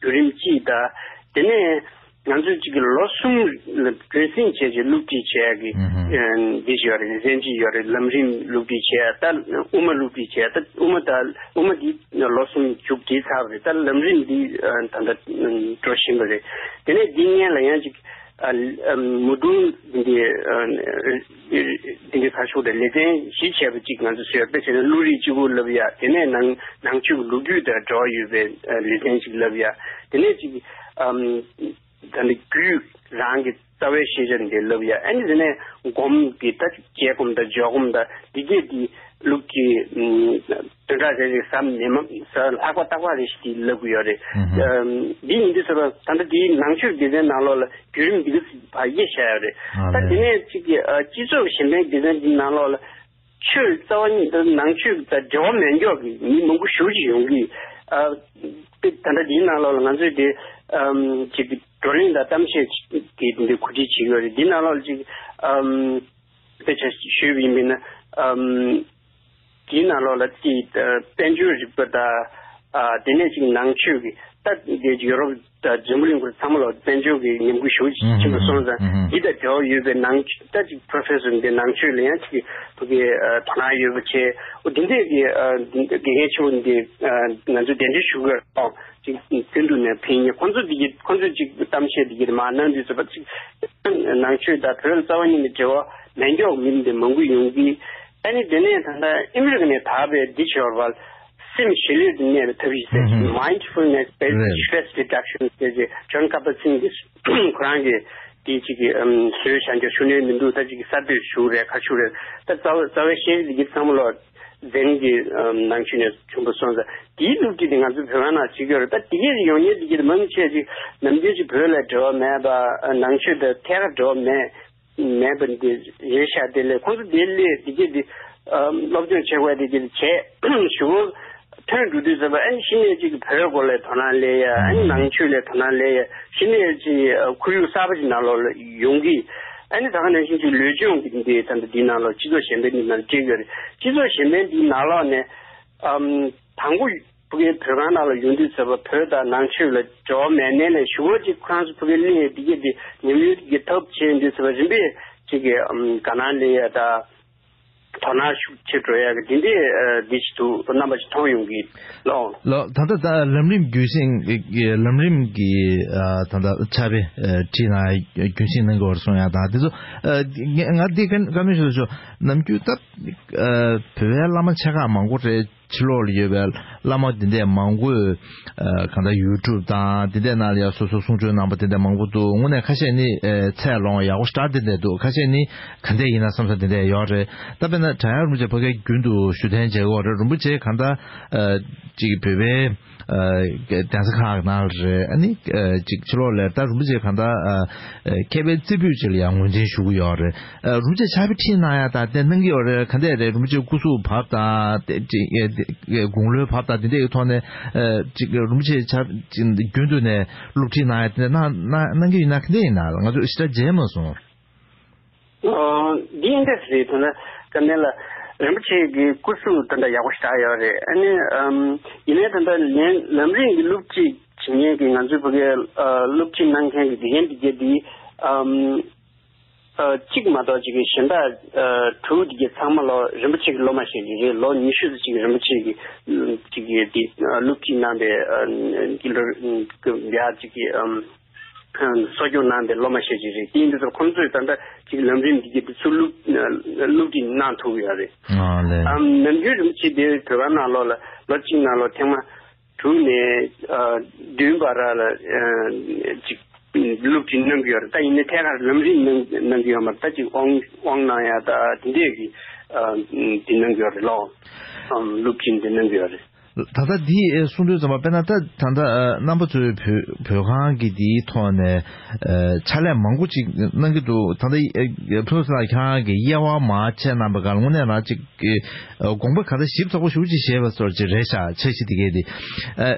བརྒྱུད་རིམ་སྤྱི་ལྟ། དེ་ནས་ང་ཚོས་གཅིག་གི་ལོ་གསུམ་བརྒྱུད་བསྲིང་བྱས་རྗེས་བསླུ་བྲིད་བྱས་ཀྱི་འདི་ཞིག་ཡོད་རེད་གཟན་སྤྱི་ཡོད་རེད་ལམ་རིམ་བསླུ་བྲིད་བྱས་ད་དབུ་མ་བསླུ་བྲིད་བྱས་ད་དབུ་མ་དང་དབུ་མ་འདི་ལོ་གསུམ་བཅུག་བྲིས་ཚར་བ་རེད་ད་ལམ་རིམ་འདི་ད་ལྟ་འགྲོ་བཞིན་པ་རེད་དེ་ནས་འདི་ངན་ལ་ཡང་གཅིག་མུ་དུམ་འདི། འདི་འདྲའི་ཁ་ཕྱོགས་དང་ལེ་ཚན་བཞི་ཆེ་བ་གཅིག་ང་ཚོས་ཟེར་དཔེ་བྱས་ན་ཀླུ་རིགས་གཅིག་པུ་ལབ་ཡ་དེ་ནས་ནང་ནང་ཆོས་ཀྱི་ལོ་རྒྱུས་དང་འབྲེལ་བ་ཡོད་པའི་ལེ་ཚན་གཅིག་ལབ་ཡ་དེ་ནས་ཅིག་ད་ནི་རྒྱུད་རང་གི་རྩ་བའི་ཤེས་བྱ་འདི་ལབ་ཡ་ཨ་ནི་དེ་ནས་སྒོམ་གྱི་ད་རྒྱལ་སྒོམ་དང་ཇོ་སྒོམ་དང་འདི་བརྒྱད་འདི་ལུགས་ཀྱི་དོན་དག་རེ་རེ་བསམ་ནས་མ་ལྷག་པ་བརྟག་པ་རེ་ཞིག་གིས་ལབ་དགོས་ཡོད་རེད། འདི་ཉིན་དུས་སུ་ད་ལྟ་དེའི་ནང་ཆོས་སྡེ་ཚན་ནང་ལོགས་ལ་བརྒྱུད་རིམ་འདི་ག་བ་དབྱེ་བྱས་ཡོད་རེད། ད་དེ་ནས་གཅིག་གིས་སྤྱི་ཚོགས་གཞན་ཕན་སྡེ་ཚན་འདི་ནང་ལོགས་ལ་ཆོས་རྩ་བ་ཉིད་དང་ནང་ཆོས་དང་འབྲེལ་བ་མེད་མགྱོགས་ཀྱི་མི་མང་པོ་ཞུགས་ཀྱི་ཡོང་གི། དེ་ད་ལྟ་དེའི་ནང་ལོགས་ལ་ང་ཚོས་དེ་གཅིག་བགྲོ་གླེང་དང་གཏམ་བཤད་ཀྱིས་འདི་གོ་སྒྲིག་བྱེད་ཀྱི་ཡོད་རེད། འདི་ནང་ལོགས་ལ་གཅིག། དཔེ་ཆ་ཞུས་པ་ཡིན་པས་ན། དེའི་ནང་ལོགས་ལ་དེའི་དཔལ་འབྱོར་རིག་པ་དང། དེ་ནས་ཅིག་ནང་ཆོས་ཀྱི་ལྟ་དེ་ཡོ་རོབ་དང་ཇོ་མོ་གླིང་སྐོར་ཚང་མ་ལོགས་དཔལ་འབྱོར་གྱི་ཉམས་རྒུད་ཞུགས་ཆེན་པོ་སོང་ཙང་འདི་དང་འབྲེལ་བ་ཡོད་པའི་ནང་ལྟ་ཅིག Professor འདི་ནང་ཆོས་ལ་ཡང་ཅིག་ཐུགས་ཀྱི་དོ་སྣང་ཡོད་པ་བྱས། དེ་འདྲའི་དགེ་རྒན་ཆེན་པོ་འདི་ང་ཚོས་གདན་འདྲེན་ཞུ་དགོས། ཅིག་དུད་འགྲོ་ནས་ཕན་ངེས་ཁོང་ཚོ་འདི་གྱི་ཁོང་ཚོས་ཅིག་གཏམ་བཤད་འདི་གྱི་མ་གནང་འདི་ཟེར་བ་ཅིག་ནང་ཆོས་དང་བོད་རྩ་བ་གཉིས་ནི་འབྲེལ་བ་མེད་མགྱོགས་མིན་འདི་མང་པོ་ཡོང་གི་ཨ་ནི་དེ་ནས་ད་ལྟ་ཨིམ་རིག་ནས་དག་པའི་འདི་ཞོར་བར་སེམས་ཞི་ལུས་དུ་གནས་པའི་ཐབས་ཤིག་ཟེར་ཞིང Mindfulness Based Stress Reduction ཟེར་ཅིག John Kabat-Zinn གྱིས་ཁོ་རང་གི་དེ་ཅིག་གི་བཟོས་བྱ་འགྱུར་ཤུགས་སྣོན་མི་འདུག་ད་ཅིག་གི་གསར་གཏོད་ཞུ་རེད་ཁ་ཤུ་རེད་ད་རྩ་བའི་ཤེས་རིག་འདི་གྱི་ཚང་མ་ལོ་རྫས་རིགས་ཀྱི་ནང་ཆུད་ནས་བྱུང་བ་སོང་ཙང་དེའི་ལུགས་ཀྱིས་ནི་ང་ཚོའི་བོད་བར་ན་ཆུད་ཀྱི་རེད་ད་དེ་གས་ཡོང་ཉེ་དེ་གས་མང་ཆད་ཅིག་ནམ་རྒྱུན་ཅིག་བོད་ལ་འབྲེལ་བ་མེད་པ་ནང་ཆུད་དེ་ཐད་ཀར་འབྲེལ་བ་མེད་མེད་པ་འདི་རེད་ཤག་དེ་ལས་ཁོང་ཚོ་དེ་ལས་དེ་གས་དེ་སློབ་སྦྱོང་བྱེད་དགོས་དེ་གས་བྱས་ཞུ། ཐོན་འགྲོ་དུས་ཟེར་བ་ཨན་ཤི་ནེ་ཅིག་གི་བོད་སྐོར་ལས་དོ་སྣང་ལས་ཡ་ཨན་ནང་ཆོས་ལས་དོ་སྣང་ལས་ཡ་ཤི་ནེ་ཅིག་ཁོར་ཡུག་གསར་པ་ཅིག་ནང་ལོག་ཡོང་གི་ཨན་ད་ག་ནང་ཤིང་ཅིག་ལུས་སྦྱོང་གི་འདི་ད་འདི་ནང་ལོག་སྤྱི་ཚོགས་གཞན་པའི་འདི་ནང་སྤྱི་ཡོད་རེད་སྤྱི་ཚོགས་གཞན་པའི་འདི་ནང་ལོག་ནས་ཨམ་དང་པོ་ཕུ་གེ་བོད་ཁང་ནང་ལོག་ཡོང་དུས་ཟེར་བ་བོད་ད་ནང་ཆོས་ལ་ཇོ་མེ་ནེ་ལས་ཞུ་བ་ཅིག་ཁོ་རང་ཚོ་ཕུ་གེ་གླིང་ཡ་འདི་གེ་འདི་ཉམས་ཡོད་གི་ཐབས་བྱེད་འདི་ཟེར་བ་རིམ་པས་ཅིག་གི་ཨམ་ག་ནང་ལས་ཡ་ད། དོ་ན་ཤུགས་ཆེ་སྤྲོ་ཡ་གི་དེ་འདྲའི་བདེ་སྐྱིད་དུ་རྣམ་པ་ཅིག་མཐོང་ཡོང་གི་ལོ། ལོ། ད་ལྟ་ད་ལམ་རིམ་རྒྱུན་བསྲིང་གི་ལམ་རིམ་གྱི་ད་ལྟ་ཆ་བེ་ཁྲིད་ན་རྒྱུན་བསྲིང་གནང་དགོས་པར་སོང་ཡང་དང་དེ་ཚོ་ང་འདི་ཀ་མེད་ཤོད་ཤོད་ནམ་རྒྱུན་ད་བོད་བའི་བླ་མ་ཆེ་ཁག་མང་པོ་རེད། ཕྱི་ལོགས་ལ་ཡོད་པའི་བླ་མ་དེ་འད་མང་པོས་གང་ལྟར་ཡུལ་གྲུབ་དང་དེ་འད་ནང་ལ་ཡང་སོ་སོའི་གསུང་ཆོས་གནང་པ་དེ་འད་མང་པོ་འདུག་དངོས་ནས་ཁ་ཤས་ནི་ཚད་ལོངས་ཡག་པོ་ཞར་དེ་འད་འདུག་ཁ་ཤས་ནི་ག་འད་ཡིན་ན་བསམ་ས་དེ་འད་ཡོད་རེད་ད་དཔེར་ན་བྲག་ཡང་རིན་པོ་ཆེ་ཕ་གའི་རྒྱུན་དུ་ཞུ་ཐན་མཇལ་གོ་རེད་རིན་པོ་ཆེ་གང་ལྟར་ཅིག་བོད་པའི། གདན་ས་ཁག་ན་རེད་ཨ་ནི་ཅིག་ཕྱི་ལོག་ལས་ད་རུ་བྱེད་གང་ད་མཁས་པའི་རྩེ་ཕུད་ཅིག་ལ་ཡང་ངོས་འཛིན་ཞུ་གི་ཡོད་རེད་རུ་བྱེད་ཆ་བི་ཁྲིད་གནང་ཡ་ད་དེ་གནང་གི་ཡོད་རེད་ག་འདས་རེད་རུ་བྱེད་སྐུ་གཟུགས་བབ་ད་དགུང་ལོའི་བབ་ད་དེ་འདས་ཀྱི་ཐོག་ནས་ཅིག་རུ་བྱེད་ཆ་རྒྱུན་དུ་ནས་སློབ་ཁྲིད་གནང་ཡ་དེ་འདས་གནང་གི་ཡིན་ན་ག་འདས་ཡིན་ན་ང་ཚོ་ཞི་དྲག་མཇལ་མ་སོང། འདི་ཡིན་འདི་ཟེར་དོན་ལ་སྐབས་འདི་ལ་རིན་པོ་ཆེ་གི་སྐུ་གཟུགས་དེ་འདྲ་ཡག་པོ་ཞིག་གྲགས་ཡོད་རེད་ཨ་ནི། ཡིན་ནའི་དེ་འདྲ་ལན་ལམ་རིང་གི་སློབ་ཁྲིད་བྱེད་མཁན་གྱི་ང་ཚོའི་བོད་སྐད་སློབ་ཁྲིད་གནང་མཁན་གྱི་དགེ་རྒན་དེ་བརྒྱད་འདིའི་གཅིག་མ་གཏོགས་ཅིག་གཞན་དག་དྲུག་དེ་བརྒྱད་ཚང་མ་ལོ་རིན་པོ་ཆེ་གི་སློབ་མ་ཞིག་རེད་རེད་ལོ་ཉི་ཤུ་ཚོ་ཅིག་རིན་པོ་ཆེ་གི་ཅིག་གི་དེ་སློབ་ཁྲིད་གནང་པའི་དགེ་ལུགས་དགེ་ལུགས་དེ་འདྲ་ཅིག་གི་གསོ་སྐྱོང་གནང་པའི་སློབ་མ་ཤས་ཆེ་རེད་དེ་འདི་ཚོར་ཁོང་ཚོས་ད་ལྟ་ཅིག་ལམ་རིམ་འདི་གི་ཚུར་བླུག་བླུག་ཅིག་གནང་ཐུབ་ཡོད་རེད་དམ། ནམ་རྒྱུན་རིམ་གྱིས་དེ་བོད་ཁང་ནང་ལོག་ལ་ལོ་གཅིག་ནང་ལོ་ཐེངས་མ་དྲུག་ནས་བདུན་བར་ར་ལ་ཅིག་བླུག་ཅིག་གནང་གི་ཡོད་རེད་ད་ཡིན་ནའི་ཐད་ཀར་ལམ་རིམ་གནང་གི་ཡོད་མ་རེད་ད་ཅིག་དབང་དབང་གནང་ཡ་ད་དེ་འདྲས་ཀྱི་དེ་གནང་གི་ཡོད་རེད་ལོག་བླུག་ཅིག་འདི་གནང་གི་ཡོད་རེད། ད་ལྟ་འདི་གསུང་དོན་ཙམ་པ་དཔེར་ན་ད་ད་ལྟ་རྣམ་པ་ཚོའི་བོད་ཁང་གི་འདིའི་ཐོག་ནས་ཕྱག་ལས་མང་པོ་ཅིག་གནང་གི་འདུག་ད་ལྟ་ཕུན་ཚོགས་ལགས་ཁྱེད་རང་གི་དབྱེ་བ་མ་ཕྱེ་གནང་པའི་སྒང་ངོ་ནས་རང་ཅིག་དགོངས་པ་ག་ད་ཞིབ་ཚགས་པོ་ཞུ་ཅིག་ཞེས་པ་སོར་ཅིག་རེད་ཤག་ཆ་ཤི་དེ་གས་དེ་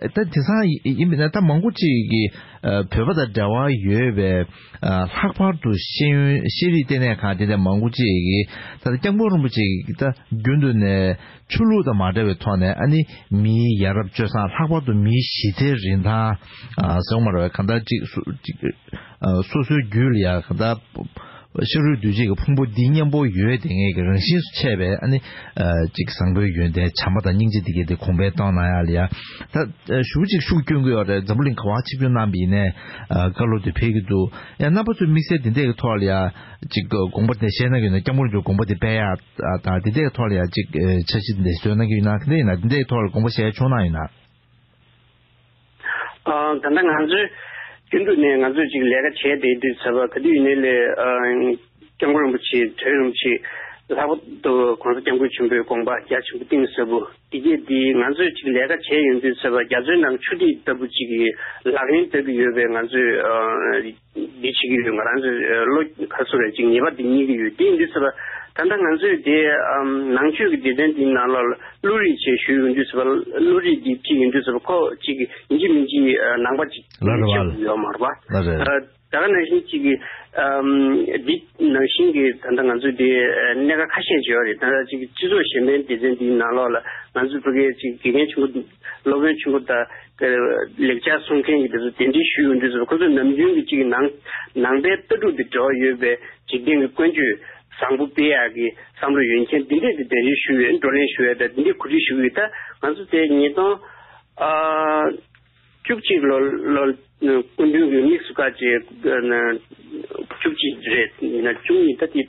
ད་དེ་སང་ཡིན་པས་ན་ད་མང་པོ་ཅིག་གི་བོད་པ་དང་འབྲེལ་བ་ཡོད་པའི་ལྷག་པར་དུ་ཤེས་ཡོན་ཤེས་རིག་ལྟེ་གནས་ཁང་དེ་འདྲ་མང་པོ་ཅིག་གིས་ད་ལྟ་སྐྱབས་མགོན་རིན་པོ་ཆེ་གིས་ད་རྒྱུན་དུ་ནས། ཆོས་ལུགས་དང་མ་འདྲ་བའི་ཐོག་ནས་ཨ་ནི་མིའི་ཡ་རབས་སྤྱོད་བཟང་ལྷག་པར་དུ་མིའི་གཞི་རྩའི་རིན་ཐང་ཟེར་མ་རོ་བས་གང་ལྟར་ཅིག་སོ་སོའི་རྒྱུད་ལ་ཡང་གང་ལྟར་ཤ་རུས་འདུས་བྱས་ཀྱི་ཕུང་པོ་འདི་གཉེན་པོ་ཡོད་བདེ་ངེས་ཀྱི་རང་བཞིན་སུ་ཆད་པས་ཨ་ནི་ཅིག་བཟང་པོའི་ཡོན་ཏན་བྱམས་པ་དང་སྙིང་རྗེ་འདི་གས་དེ་གོང་འཕེལ་གཏོང་ན་ཡང་ལེགས། ད་ཞུ་ཅིག་ཤུགས་བསྐྱོན་གི་ཡོད་རེད་འཛམ་བུ་གླིང་ག་བ་ཆིག་བརྒྱུད་རྣམས་པ་ཡིན་ནས་བཀའ་སློབ་དེ་ཕེལ་གི་འདུག་ཡང་རྣམ་པ་ཚོས་དམིགས་བསལ་དེ་འད་ཀྱི་ཐོག་ལ་ཡང་ཅིག་དགོངས་པ་དེ་བཤད་ན་ཡོད་ན་སྐྱབས་མགོན་ཀྱི་དགོངས་པ་དེ་དཔལ་ཡག། དང་དེ་འདྲའི་ཐོག་ལ་ཡང་ཅིག་འཆར་གཞི་འདི་འདྲ་བཟོས་གནང་གི་ཡོད་ན་དེ་འདྲའི་ཡིན་ན་དེ་འདྲའི་ཐོག་ལ་དགོངས་པ་བཞེས་ཆོག་གནང་ཡོད་ན། ད་ལྟ་ང་ཚོས་རྒྱུན་དུ་ནས་ང་ཚོས་ཅིག་ལས་ཀ་བྱས་ཏེ་དུས་ཚོད་ཟད་པ་ག་དུས་ཡིན་ནའི་ལས་སྐྱབས་མགོན་རིན་པོ་ཆེའི་དོན་རིན་པོ་ཆེ་ལྷག་པ་དུ་གོང་ས་སྐྱབས་མགོན་ཆེན་པོའི་དགོངས་པ་རྒྱ་ཆེན་པོ་གཏིང་ཟབ་པོ་འདི་གས་འདི་ང་ཚོས་ཅིག་ལས་ཀ་བྱས་ཡོང་དུས་ཚོད་པ་རྒྱ་མཚོའི་ནང་ཆུ་ཐིགས་ལྟ་བུ་ཅིག་ལག་ལེན་བསྟར་གི་ཡོད་པའི་ང་ཚོས་འདི་བྱེད་ཀྱི་ཡོད་ང་རང་ཚོས་བློ་ཁ་གསོ་བའི་ངེས་པ་དེ་རྙེད་ཀྱི་ཡོད་དེ་འདུག་ཟེར་བ། ད་ལྟ་ང་ཚོས་དེ་ནང་ཆོས་ཀྱི་སྡེ་ཚན་དེའི་ནང་ལ་བློ་རིག་ཅེས་ཞུས་ཡོང་དུས་ཟེར་བ་བློ་རིག་འདི་ཅི་ཡིན་དུས་ཟེར་བ་ཁོ་ཅིག་ཡིན་གྱི་མིན་གྱི་ནང་པ་ཅིག་ལ་རེ་བ་ལ་ཡོད་མ་རེད་པ། ལ་རེ། ད་ག་ནང་བཞིན་ཅིག་གི། འདི་ནང་བཞིན་གྱི་ད་ལྟ་ང་ཚོས་དེ་གནད་ཀ་ཁ་ཤས་བྱས་བ་རེད་ད་ཅིག་སྤྱི་ཚོགས་གཞན་པའི་སྡེ་ཚན་དེའི་ནང་ལ་ང་ཚོས་བོད་སྐད་ཅིག་དགེ་རྒན་ཆུང་ངུ། སློབ་དཔོན་ཆེན་པོ་དག་ལེགས་སྦྱར་གསུང་མཁན་གྱིས་དེ་ཚོ་གདན་འདྲེན་ཞུས་ཡོང་དུས་སུ་ཁོ་ཚོས་ནམ་རྒྱུན་གྱི་ཅིག་ནང་ནང་པའི་ལྟ་གྲུབ་དེ་འབྲེལ་བ་ཡོད་པའི་འཇིག་རྟེན་གྱི་ཀུན་སྤྱོད་བཟང་པོ་སྤེལ་ཡག་གི་བསམ་བློ་ཡོད་མཁན་དེ་འདྲས་དེ་གདན་འདྲེན་ཞུས་ཡོད་བགྲོ་གླེང་ཞུ་ཡོད་དང་དེ་འདྲས་གོ་སྒྲིག་ཞུ་གི་ཡོད་ད་ང་ཚོ་དེ་ཉིས་སྟོང་ཨ་བཅུ་གཅིག་ལོ་ལོར་སྐུ་མདུན་གྱི་དམིགས་སུ་བཀར་ཅིག་བཅུ་གཅིག་རེད་ཡིན་ན་བཅུ་གཉིས་ད་དེ་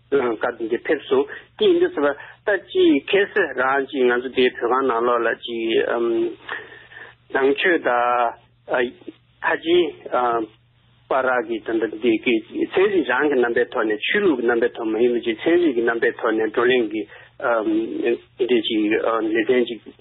ནང་སྐབས་འདི་འདྲའི་ཕེབས་སོང་དེ་ཡིན་དུས་ཟེར་བ་ལྟ་ཅི་ཁེ་སི་རང་ཅིག་ང་ཚོ་དེའི་བོད་ཁང་ནང་ལོག་ལ་ཅིག་ནང་ཆོས་དང་ཁ་ཆེ་པ་རག་གི་དོན་དུ་འདི་གི་ཚན་རིག་རང་གི་རྣམ་པའི་ཐོག་ནས་ཆོས་ལུགས་ཀྱི་རྣམ་པའི་ཐོག་མ་ཡིན་པ་ཅིག་ཚན་རིག་གི་རྣམ་པའི་ཐོག་ནས་བགྲོ་གླེང་གི་འདི་ཅིག་ལེ་ཚན་ཅིག།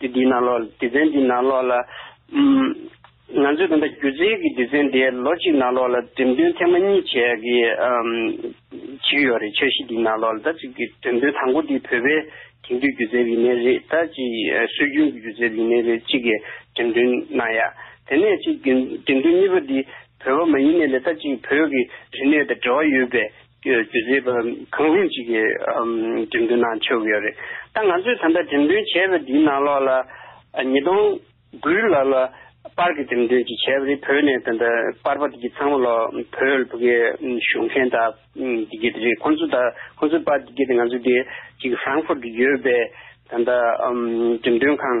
དེ་འདི་ནང་ལོགས་སྡེ་ཚན་འདི་ནང་ལོགས་ལ། ང་ཚོས་ད་ལྟ་སྒྱུ་རྩལ་གྱི་སྡེ་ཚན་དེ་ལོ་གཅིག་ནང་ལོགས་ལ་འགྲེམས་སྟོན་ཐེངས་མ་གཉིས་བྱས་ཀྱི་བྱེད་ཀྱི་ཡོད་རེད་འཆར་གཞི་འདི་ནང་ལོགས་ལ་ད་ཅིག་གི་འགྲེམས་སྟོན་དང་པོ་འདི་བོད་པའི་དེང་དུས་སྒྱུ་རྩལ་བའི་གནས་རིགས་ད་ཅིག་སྲོལ་རྒྱུན་གྱི་སྒྱུ་རྩལ་བའི་གནས་རིགས་གཅིག་གི་འགྲེམས་སྟོན་གནང་ཡ། དེ་ནས་ཅིག་གི་འགྲེམས་སྟོན་གཉིས་པ་འདི་བོད་པ་མ་ཡིན་ནས་ལས་ད་ཅིག་བོད་ཀྱི་རིག་གནས་དང་འབྲེལ་བ་ཡོད་པའི། རྒྱུ་རྫས་པ་གང་རུང་ཅིག་གི་འགྲེམས་སྟོན་ནང་འཆར་གི་ཡོད་རེད། ད་ང་ཚོས་ད་ལྟ་འགྲེམས་སྟོན་བྱས་པ་འདིའི་ནང་ལོགས་ལ་ཉིས་སྟོང་དགུའི་ལོགས་ལ་པར་གྱི་འགྲེམས་སྟོན་ཅིག་བྱས་པ་རེད་བོད་ནས་ད་ལྟ་པར་པ་དེ་གི་ཚང་མ་ལོགས་བོད་ཕུ་གེ་བཞུགས་མཁན་དག་དེ་གི་རེད་ཁོང་ཚོ་དག་ཁོང་ཚོའི་པར་དེ་གི་དེ་ང་ཚོ་དེ་གཅིག Frankfurt གི་ཡོད་པའི་ད་ལྟ་འགྲེམས་སྟོན་ཁང་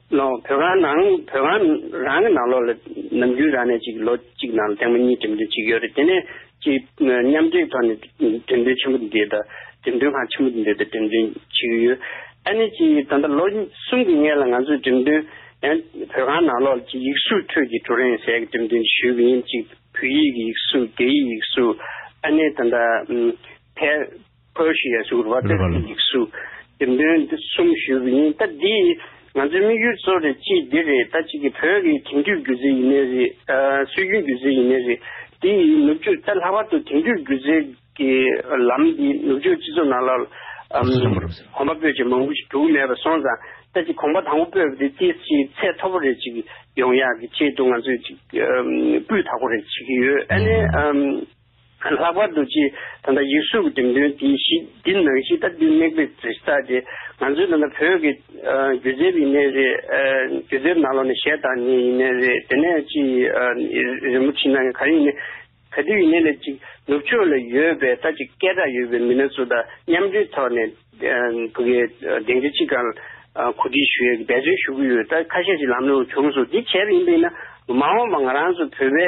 ནང་བོད་ཁང་ནང་བོད་ཁང་རང་གི་ནང་ལོགས་ལ་ནམ་རྒྱུན་རང་ནས་ཅིག་ལོ་གཅིག་ནང་ལ་ཐེངས་མ་གཉིས་འགྲིམ་འགྲུལ་བྱེད་ཀྱི་ཡོད་རེད་དེ་ནས་ཅིག་མཉམ་འབྲེལ་ཐོག་ནས་འགྲིམ་འགྲུལ་ཆེན་པོ་འདི་དང་འགྲིམ་འགྲུལ་ཁང་ཆེན་པོ་འདི་དང་འགྲིམ་འགྲུལ་བྱེད་ཀྱི་ཡོད། ཨ་ནི་ཅིག་ད་ལྟ་ལོ་གསུམ་གྱི་སྔས་ལ་ང་ཚོས་འགྲིམ་འགྲུལ་ཡང་བོད་ཁང་ནང་ལོགས་ལ་ཅིག་ཡིག་གཟུགས་ཁྲོད་ཀྱི་ཀྲུའུ་རེན་ཟས་ཀྱི་འགྲིམ་འགྲུལ་འདི་ཞུས་ཀྱི་ཡིན་ཅིག་བོད་ཡིག་གི་ཡིག་གཟུགས་རྒྱ་ཡིག་ཡིག་གཟུགས་ཨ་ནི་ད་ལྟ་ཕལ། Perseus ཟུར་བ་དེབ་ཀྱི་ཡིག་གཟུགས་ཀྱི་འདོན་འདི་གསུམ་ཞུས་པ་ཡིན་སྟབས་འདི་ང་ཚོའི་དམིགས་ཡུལ་གཙོ་རེད་ཅེས་འདི་རེད་ད་གཅིག་གི་བོད་ཀྱི་དེང་དུས་སྒྱུ་རྩལ་ཡིན་ནི་རེད་སྲོལ་རྒྱུན་སྒྱུ་རྩལ་ཡིན་ནི་རེད་འདི་ཡིས་ནུབ་ཕྱོགས་གཏན་ལྷག་པར་དུ་དེང་དུས་སྒྱུ་རྩལ་གྱི་ལམ་འདི་ནུབ་ཕྱོགས་སྤྱི་ཚོགས་ནང་ལ་གོམ་པ་སྤོས་ཀྱི་མང་པོ་ཞིག་གྲུབ་མེད་པར་སོང་ཙང་ད་གཅིག་གོམ་པ་དང་པོ་སྤོས་པ་འདི་ཅིའི་ཕྱིར་ཚད་མཐོ་པོ་རེ་ཅིག་ཡོང་ཡག་གི་ཆེད་དུ་ང་ཚོས་ཅིག་སྤུས་དག་པོ་རེ་བྱེད་ཀྱི་ཡོད་ཨ་ནི། ལྷག་པར་དུ་ཆེས་ད་ལྟ་ཡུལ་སྲོལ་གྱི་འགྲེམས་སྟོན་དེ་ཞི་བདེ་ནང་བཞིན་ལྟ་དུས་དམིགས་དཔེ་གྲུ་ཆ་དེ་ང་ཚོའི་ད་ལྟ་བོད་ཀྱི་སྒྱུ་རྩལ་ཡིན་ནི་རེད། སྒྱུ་རྩལ་ནང་ལོགས་ནས་གཞས་བཏང་ནི་ཡིན་ནི་རེད་དེ་ནས་ཅི་རིན་པོ་ཆེ་ནང་གི་ག་རེ་ཡིན་ནི། ག་དུས་ཡིན་ནི་ལས་ཅིག་ནུབ་ཕྱོགས་ལ་ཡོད་པའི་ལྟ་ཅིག་སྐད་གྲགས་ཡོད་པའི་མི་སྣ་ཚོ་དང་མཉམ་འབྲེལ་ཐོག་ནས་བོད་ཀྱི་གདེང་ཆ་ཅི་གང་གོ་སྒྲིག་ཞུ་ཡས་ཀྱི་འབད་བརྩོན་ཞུ་གི་ཡོད་ད་ཁ་ཤས་ཤིག་ལམ་ལོང་བྱུང་སོང་དེ་བྱས་པ་ཡིན་པས་ན་མ་འོངས་པ་ང་རང་ཚོ་བོད་པའི།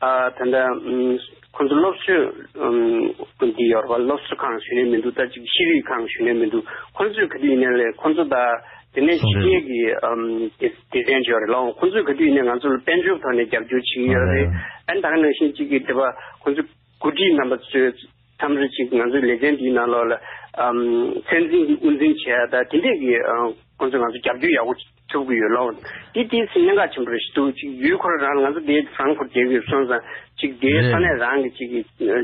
ད་ལྟ་ཁོང་ཚོ་སློབ་གསོའི་དགོན་དེ་ཡོད་རེད་པ་སློབ་གསོ་ཁང་ཞུས་ནས་མི་འདུག་ད་ཅིག་ཤེས་རིག་ཁང་ཞུས་ནས་མི་འདུག་ཁོང་ཚོས་ག་དུས་ཡིན་ན་ལས་ཁོང་ཚོ་ད་དེ་ནས་ཕྱི་རྒྱལ་གྱི་སྡེ་ཚན་ཞུས་རེད་ལ་ཁོང་ཚོས་ག་དུས་ཡིན་ན་ང་ཚོ་ལ་དཔལ་འབྱོར་ཐོག་ནས་རྒྱབ་སྐྱོར་བྱེད་ཀྱི་ཡོད་རེད་ཨན་དང་ནང་བཞིན་གཅིག་གིས་དེ་པ་ཁོང་ཚོས་འགོ་ཁྲིད་རྣམ་པ་ཚོས་མཚམས་རེ་ཅིག་ང་ཚོའི་ལེ་ཚན་དེའི་ནང་ལོགས་ལ་ཚད་འཛིན་གྱི་དབུ་འཛིན་བྱས་ད་དེ་འདྲས་ཀྱི་ཁོང་ཚོས་ང་ཚོ་རྒྱབ་སྐྱོར་ཡག་པོ་ཐུབ་ཀྱི་ཡོད་ལགས། དེ་དུས་སུ་གནད་འགག་ཆེན་པོ་རེ་ཞིག་འདུག་ཅིག་ཡུལ་འཁོར་རང་ལ་ང་ཚོ་དེའི་ཧྥ་རན་ཁུར་རྒྱལ་ཁབ་ཀྱི་སོན་ཙང་ཅིག་དེའི་ས་གནས་རང་གི་ཅིག་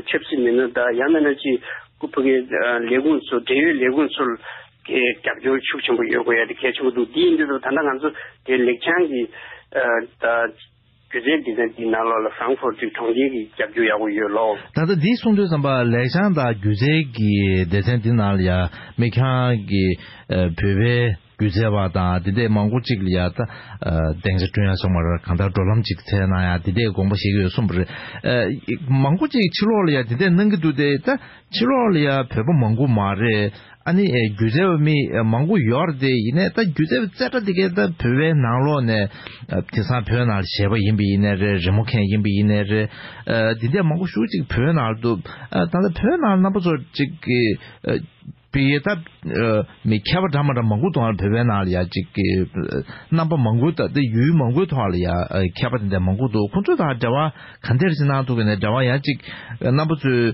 ཆབ་སྲིད་མི་སྣ་དང་ཡང་མིན་ན་ཅིག་ཁུ་ཕུ་གའི་ལས་ཁུངས་ཚོ་འབྲེལ་ཡོད་ལས་ཁུངས་ཚོར་གྱི་རྒྱབ་སྐྱོར་ཤུགས་ཆེན་པོ་ཡོད་དགོས་ཡ་དེ་གལ་ཆེན་པོ་འདུག་དེའི་འདི་ད་ལྟ་ང་ཚོ་དེ་ལེགས་བྱང་གི་ད། གྱོད་ཆས་འདི་ནི་འདིའི་ནང་ལོགས་ལ་ཟངས་ཕོར་དུས་གྲོང་ཁྱེར་གྱི་རྒྱབ་རྒྱུ་ཡག་པོ་ཡོད་ལོ། ད་ལྟ་འདིའི་གསུང་དོན་ཙམ་པ་ལེགས་བྱང་དང་སྒྱུ་རྩལ་གྱི་སྡེ་ཚན་འདི་ནང་ལ་ཡང་མི་ཁྱང་གི་བོད་པའི་སྒྱུ་རྩལ་བ་དང་དེ་འདས་མང་པོ་ཅིག་ལ་ཡང་གདེང་ཆ་བསྐྲུན་ཡ་སོང་བར་གང་ལྟར་འགྲོ་ལམ་ཅིག་ཚད་གནང་ཡང་དེ་འདས་དགོངས་པ་བཞེས་ཀྱི་ཡོད་གསུངས་པ་རེད། མང་པོ་ཅིག་ཕྱི་ལོགས་ལ་ཡང་དེ་འདས་གནང་གི་འདུག་སྟེ་ད་ཕྱི་ལོགས་ལ་ཡང་བོད་པ་མང་པོ་མ་རེད་ཨ་ནི་སྒྱུ་རྩལ་བ་མི་མང་པོ་ཡོད་རེད་དེ་ཡིན་ནས་ད་སྒྱུ་རྩལ་བ་རྩེ་གྲ་དེ་གས་ད་བོད་པའི་ནང་ལོགས་ནས་དེང་སང་བོད་ནང་ལ་བྱས་པ་ཡིན་པ་ཡིན་ནས་རེད་རི་མོ་མཁན་ཡིན་པ་ཡིན་ནས་རེད་དེ་འདྲས་མང་པོ་ཞུགས་ཅིག་བོད་ནང་དུ་ད་ལྟ་བོད་ནང་རྣམ་པ་ཚོ་ཅིག་པི་ཡེ་ད་མི་མཁས་པ་འདྲ་མ་འདྲ་མང་པོ་འདུག་ཨ་བོད་པའི་ནང་ལ་ཡང་ཅིག་རྣམ་པ་མང་པོ་ད་ཡུལ་མང་པོའི་ཐོག་ལ་ཡང་མཁས་པ་དེ་འདྲས་མང་པོ་འདུག་ཁོང་ཚོ་དང་འབྲེལ་བ་ག་འདྲས་ཅིག་གནང་ཐུབ་ཀྱི་ནས་འབྲེལ་བ་ཡང་ཅིག་རྣམ་པ་ཚོའི།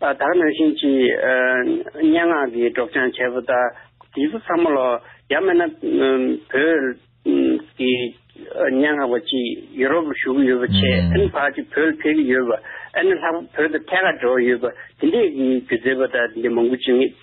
བདག་ནང་བཞིན་གྱི་སྙན་ངག་གི་སྒྲོག་སྦྱང་བྱས་པ་དང་དུས་ཚོད་ཚང་མ་ལ་ཡང་མེད་ན། བོད་ཀྱི་སྙན་ངག་པ་གཅིག་ཡུ་རོབ་ལ་བཞུགས་ཡོད་པ་ཆེ་ཨན་བར་གྱི་བོད་ལ་ཕེབས་ཀྱི་ཡོད་པ་ཨ་ནེ་ལྷག་པ་བོད་དུ་ཐད་ཀར་འགྲོ་ཡོད་པ་དེ་འདྲའི་སྒྱུ་རྩལ་པ་དང་དེ་འདྲའི་མང་པོ་བྱུང།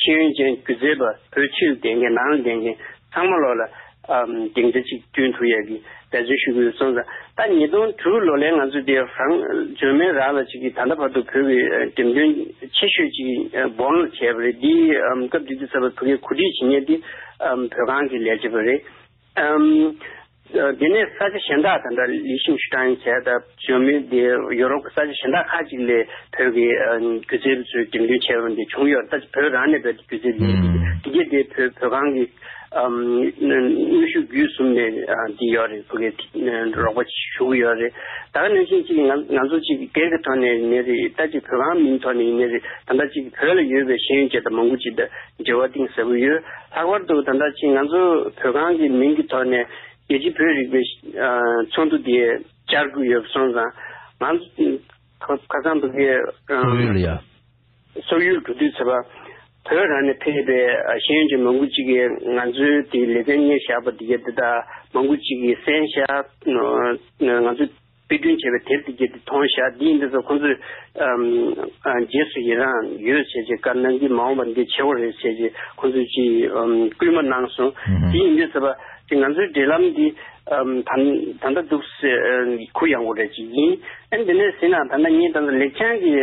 ཤེས་ཡོན་ཅན་སྒྱུ་རྩལ་པ་བོད་ཕྱིར་བསྡད་མཁན་ནང་ལ་བསྡད་མཁན་ཚང་མ་ལོག་ལ། དེང་ཆ་གཅིག་གྱུར་འཐུ་ཡས་ཀྱི་འབད་རྩོལ་ཞུ་གི་ཡོད་སོང་ཙང་ད་ཉིས་སྟོང་དྲུག་ལོ་ལས་ང་ཚོ་དེ་རང་འཇོན་མེད་རག་ལ་བྱེད་ཀྱི་ད་ལྟ་བར་དུ་བོད་ཀྱི་འགྲེམས་སྟོན་ཆེ་ཤོས་ཅིག་སྦོར་ལ་བྱས་པ་རེད་འདིའི་སྐབས་དེ་དུས་ཚབ་པ་བུ་ངས་གོ་སྒྲིག་བྱེད་མཁན་དེ་བོད་ཁང་གི་ལས་བྱེད་པ་རེད། དེ་ནས་ས་ཆ་གཞན་དག་དང་འདྲ་ལི་ཤིང་ཞུ་ཀྲང་ཆེ་ད་ཞོན་མི་དེ་ཡོ་རོབ་ཀྱི་ས་ཆ་གཞན་དག་ཁག་ཅིག་ལས་བོད་ཀྱི་སྒྱུ་རྩལ་པ་ཚོའི་འགྲེམས་སྟོན་བྱས་པ་འདི་བྱུང་ཡོད་ད་ཆ་བོད་རང་ནས་བོད་ཀྱི་སྒྱུ་རྩལ་ལས་རིགས་འདི་གྱེས་ཏེ་བོད་བོད་ཁང་གི་ནུས་ཤུགས་བརྒྱུད་གསུམ་ནས་འདི་ཡོད་རེད་བོད་ཀྱི་རོགས་པ་ཞུ་གི་ཡོད་རེད་ད་ག་ནང་བཞིན་གཅིག་ང་ཚོ་གཅིག་སྒེར་གྱི་ཐོག་ནས་ནས་རེད་ད་གཅིག་བོད་ཁང་མིང་ཐོག་ནས་ཡིན་ནས་རེད་ད་ལྟ་གཅིག་བོད་ལ་ཡོད་པའི་ཤེས་ཡོན་ཅན་དང་མང་པོ་གཅིག་འབྲེལ་བ་གཏིང་ཟབ་པོ་ཡོད། ལྷག་པར་དུ་ད་ལྟ་ཕྱིན་ང་ཚོ་བོད་ཁང་གི་མིང་གི་ཐོག་ནས་རྒྱལ་སྤྱི་བོད་རིག་པའི་ཚོགས་འདུ་དེ་བཅར་དགོས་ཡོད་སོང་ཙང། ཁ་སང་བོད་རྒྱལ། སོག་ཡུལ་ཡ། སོག་ཡུལ་འགྲོ་དུས་ཚེ་པ། བོད་རང་ནས་ཕེབས་པའི་ཤེས་ཡོན་ཅན་མང་པོ་ཅིག་གིས་ང་ཚོའི་དེའི་ལེ་ཚན་གཉེར་བཞག་པ་དེ་ག་དེ་དག་མང་པོ་ཅིག་གིས་གསན་བཞག་ང་ཚོ། དཔེ་སྐྲུན་བྱས་པའི་དེབ་དེ་བརྒྱད་དེ་མཐོང་བཞག་འདི་ཡིན་འདི་ཚོ་ཁོང་ཚོས། རྗེས་སུ་ཡི་རང་ཡོད་བྱས་ཅེས་བཀའ་གནང་གིས་མ་འོངས་པར་འདི་ཆེ་བོ་རེད་བྱས་ཅེས་ཁོང་ཚོས་ཅི་བསྐུལ་མ་གནང་སོང། དེ་ཡིན་དུས་ཟེར་བ། ཅི་ང་ཚོའི་འབྲེལ་ལམ་འདི། ད་ལྟ་འདུག་ཟེར། གུ་ཡངས་པོ་རེད་ཅེས་ཡིན། ཨ་འདི་ནས་ཟིན་ན་ད་ལྟ་ངས་ད་ལེགས་བྱང་གི།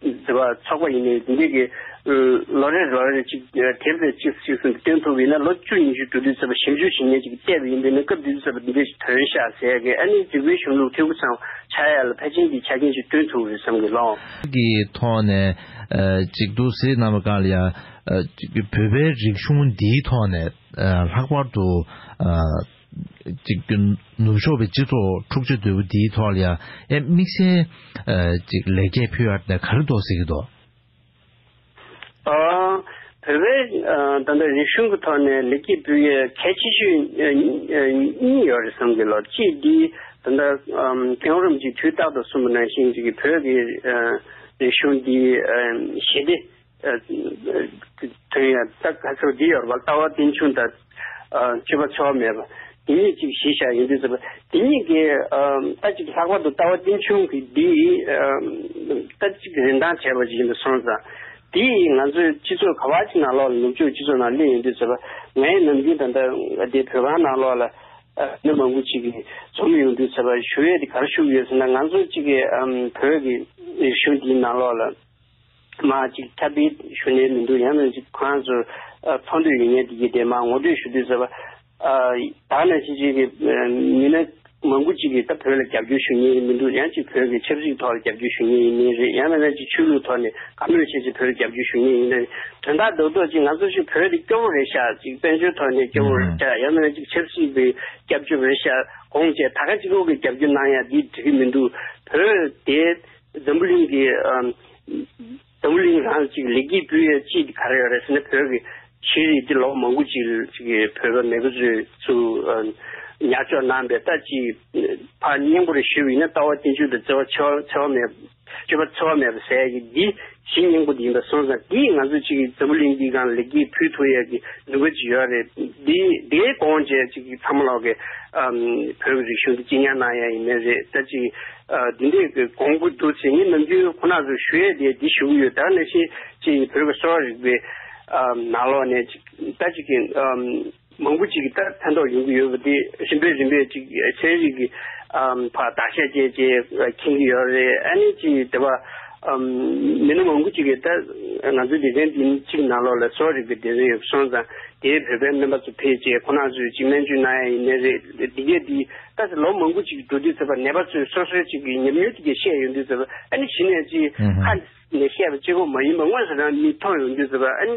ཟེར་བ་ཆགས་པ་ཡིན། འདི་འདྲའི་གི། ལོ་རེར་ལོ་རེར་ཅིག་དེབ་དེ་གཅིག་གཅིག་གསུམ་གྱི་སྟེང་ཐུག་པའི་ན་ལོ་བཅུ་ཉི་ཤུ་དྲུག་བདུན་ཚར་བ་ཞིབ་འཇུག་བྱེད་ཉེན་ཅིག་བལྟས་པ་ཡིན་པས་ན་སྐབས་འདི་ཚར་བ་འདི་འདྲའི་ཞིག་དོན་ཤ་ཟའི་གི་ཨ་ནི་འཇིགས་པའི་གཞུང་ལུགས་ཐེའུ་ཚང་ཆ་ཡ་ལ་ཕལ་ཆེན་གྱི་ཆ་རྐྱེན་ཞིག་བསྐྲུན་ཐུབ་རེད་བསམ་གི་ལོང། གི་ཐོག་ནས་ཅིག་འདུག་ཟེར་ནམ་གང་ལ་ཡང། བོད་པའི་རིག་གཞུང་འདིའི་ཐོག་ནས་ལྷག་པར་དུ། ཅིག་གི་ནུབ་ཕྱོགས་པའི་སྤྱི་ཚོགས་འཁྲུག་ཆ་དོད་པོ་འདིའི་ཐོག་ལ་ཡང་ཨེ་དམིགས་བསལ་ཅིག་ལེགས་སྐྱེས་ཕུལ་ཡ་ད་ག་རེ་འདོགས་ཟེར་གི་འདོག། བོད་པའི་ད་ལྟ་རིག་གཞུང་གི་ཐོག་ནས་ལེགས་སྐྱེས་ཕུལ་ཡའི་གལ་ཆེ་ཤོས་གཉིས་ཡོད་རེད་བསམ་གི་ལོ་གཅིག་འདི་ད་ལྟ་གེ་ཨོ་རམ་གྱིས་དུས་རྟག་ཏུ་གསུངས་པ་ནང་བཞིན་ཅིག་གི་བོད་ཀྱི་རིག་གཞུང་འདི་ཞི་བདེ་དོན་ཡང་དག་ག་ཚོད་འདི་ཡོད་པར་ལྟ་བ་རྟེན་འབྱུང་དང་སྤྱོད་པ་འཚོ་བ་མེད་པ་དེ་ཉིད་ཅིག་གཞི་བཞག་ཡིན་དུས་ཟེར་བ་དེ་ཉིད་ཀྱི་ལྟ་ཅིག་ལྷག་པར་དུ་ལྟ་བ་རྟེན་འབྱུང་གི་འདི་ལྟ་ཅིག་རིན་ཐང་བྱས་པ་ཞིག་ཡིན་པར་སོང་ཙང་དེ་ཡིས་ང་ཚོའི་སྤྱི་ཚོགས་ག་བ་ཅིག་ནང་ལོག་ལ་ནུབ་ཕྱོགས་སྤྱི་ཚོགས་ནང་སླེབས་ཡོང་དུས་ཟེར་བ་ངའི་ནམ་རྒྱུན་ད་ལྟ་བདེ་བོད་ཁང་ནང་ལོག་ལ་མི་མང་པོ་ཅིག་འཛོམས་ཡོང་དུས་ཟེར་བ་ཞུ་ཡས་དེ་གར་བཞུགས་ཡོད་ཟེར་ན་ང་ཚོ་ཅིག་བོད་ཀྱི་རིག་གཞུང་འདིའི་ནང་ལོག་ལ། མ་གཅིག་ཁྱབ་སྤེལ་ཞུ་ནས་མི་འདུག་ཡང་ན་གཅིག་ཁོ་རང་ཚོར་འཚོང་འདོད་ཡོད་ངེས་དེ་གྱིས་དེ་མ་ངོ་སྤྲོད་ཞུ་དུས་ཟེར་བ། ད་ནི་ཅི་ཅིག་གིས་མི་སྣ་མང་པོ་གཅིག་གིས་ད་བོད་ལ་རྒྱབ་སྐྱོར་ཞུ་ངེས་མི་འདུག་ཡང་གཅིག་བོད་ཀྱི་ཆབ་སྲིད་ཐོག་ལ་རྒྱབ་སྐྱོར་ཞུ་ངེས་ཡིན་ངེས་རེད་ཡང་ན་ན་གཅིག་ཆོས་ལུགས་ཐོག་ནས་དགའ་མོས་བྱེད་ཅིག་བོད་ལ་རྒྱབ་སྐྱོར་ཞུ་ངེས་ཡིན་ན་དོན་དག་རྡོག་རྡོག་གཅིག་ང་ཚོ་ཞིག་བོད་དེ་སྐྱོ་བོ་རེད་ཤག་ཅིག་དཔལ་འབྱོར་ཐོག་ནས་སྐྱོ་བོ་རེད་ཤག་ཡང་ན་ན་གཅིག་ཆབ་སྲིད་པའི་སྐྱབས་བཅོལ་བོ་རེད་ཤག་དགོངས་བཅས་ད་ག་གཅིག་ལོག་གི་རྒྱབ་སྐྱོར་གནང་ཡག་འདི་དྲི་གི་མི་འདུག་བོད་དེ། འཛམ་བུ་གླིང་གི། འཛམ་བུ་གླིང་རང་གཅིག་ལེགས་སྐྱེས་སྤུས་ཡས་སྐྱིད་ག་རེ་ཡོད་རེད་ཟེར་ན་བོད་ཀྱི་ཤེས་རིག་འདི་ལོ་མང་པོ་ཅིག་གི་བོད་པ་མེས་པོ་ཚོས་ཚུ་ཉར་གཅོག་གནང་པའི་ལྟ་ཅི་ཕར་སྙིང་པོ་རེ་ཞུ་ཡིན་ན་ལྟ་བ་བསྟན་བཅོས་དང་བརྩེ་བ་འཚེ་བ་མེད་སྤྱོད་པ་འཚེ་བ་མེད་པ་ཟས་ཀྱི་འདི་གཞི་སྙིང་པོ་དེ་ཡིན་པ་སོང་ཙང་དེས་ང་ཚོ་ཅིག་འཛམ་བུ་གླིང་འདི་གང་ལེགས་སྐྱེས་ཕུལ་ཐུབ་ཡས་ཀྱི་འདུ་འགོད་ཅིག་ཡོད་རེད་དེ་དེའི་དགོངས་བཅས་ཅིག་ཚ་མོ་ལགས་ཀྱི་བོད་ཀྱི་རིག་གཞུང་དེ་གཅེས་ཉར་གནང་ཡས་ཡིན་མེད་རེད་ད་ཅིག་དེ་འདྲས་ཀྱི་དགོངས་ཀྱི་འདུག་ཚེ་ངས་ནམ་རྒྱུན་ཁོ་ནག་ཚོ་ཞུ་ཡས་དེ་དེ་ཞུ་གི་ཡོད་ད་ནས་བཞིན་ཅིག་བོད་ཀྱི་གསོ་བ་རིག་པའི་ནགས་ལོག་ནས་ཅིག་ད་ཅིག་གི་མང་པོ་ཅིག་ཕན་ཐོགས་ཡོང་གི་ཡོད་པ་དེ་རིམ་པས་རིམ་པས་ཅིག་ཚན་རིག་གི་བར་བརྟག་དཔྱད་བཅས་ཀྱིས་མཁྱེན་གྱི་ཡོད་རེད་ཨ་ནི་ཅི་དེ་བ་མི་སྣ་མང་པོ་ཅིག་གིས་ད་ང་ཚོའི་སྡེ་ཚན་འདི་གཅིག་ནང་ལོགས་ལ་གསོ་རིག་གི་སྡེ་ཚན་ཡོད་སོང་ཙང་དེའི་བོད་པའི་སྨན་པ་ཚོ་ཕེབས་རྗེས་ཁོ་ན་ཚོས་ཅིག་སྨན་བཅོས་གནང་ཡ་ཡིན་ནི་རེད་འདི་གས་འདི་ད་ཟེར་ལོ་མང་པོ་ཅིག་འགྲོ་དུས་ཚོད་པ་ནད་པ་ཚོས་སོ་སོའི་ཅིག་གི་ཉམས་མྱོང་དེ་གས་བཤད་ཡོང་དུས་ཚོད་པ་ཨ་ནི་གཞི་ནས་ཅིག་ཧ་ནས་བཤད་པ་གཅིག་ཁོ་མ་ཡིན་པ་དངོས་སུ་རང་མིས་མཐོང་ཡོང་དུས་ཚོད་པ་ཨ་ནི།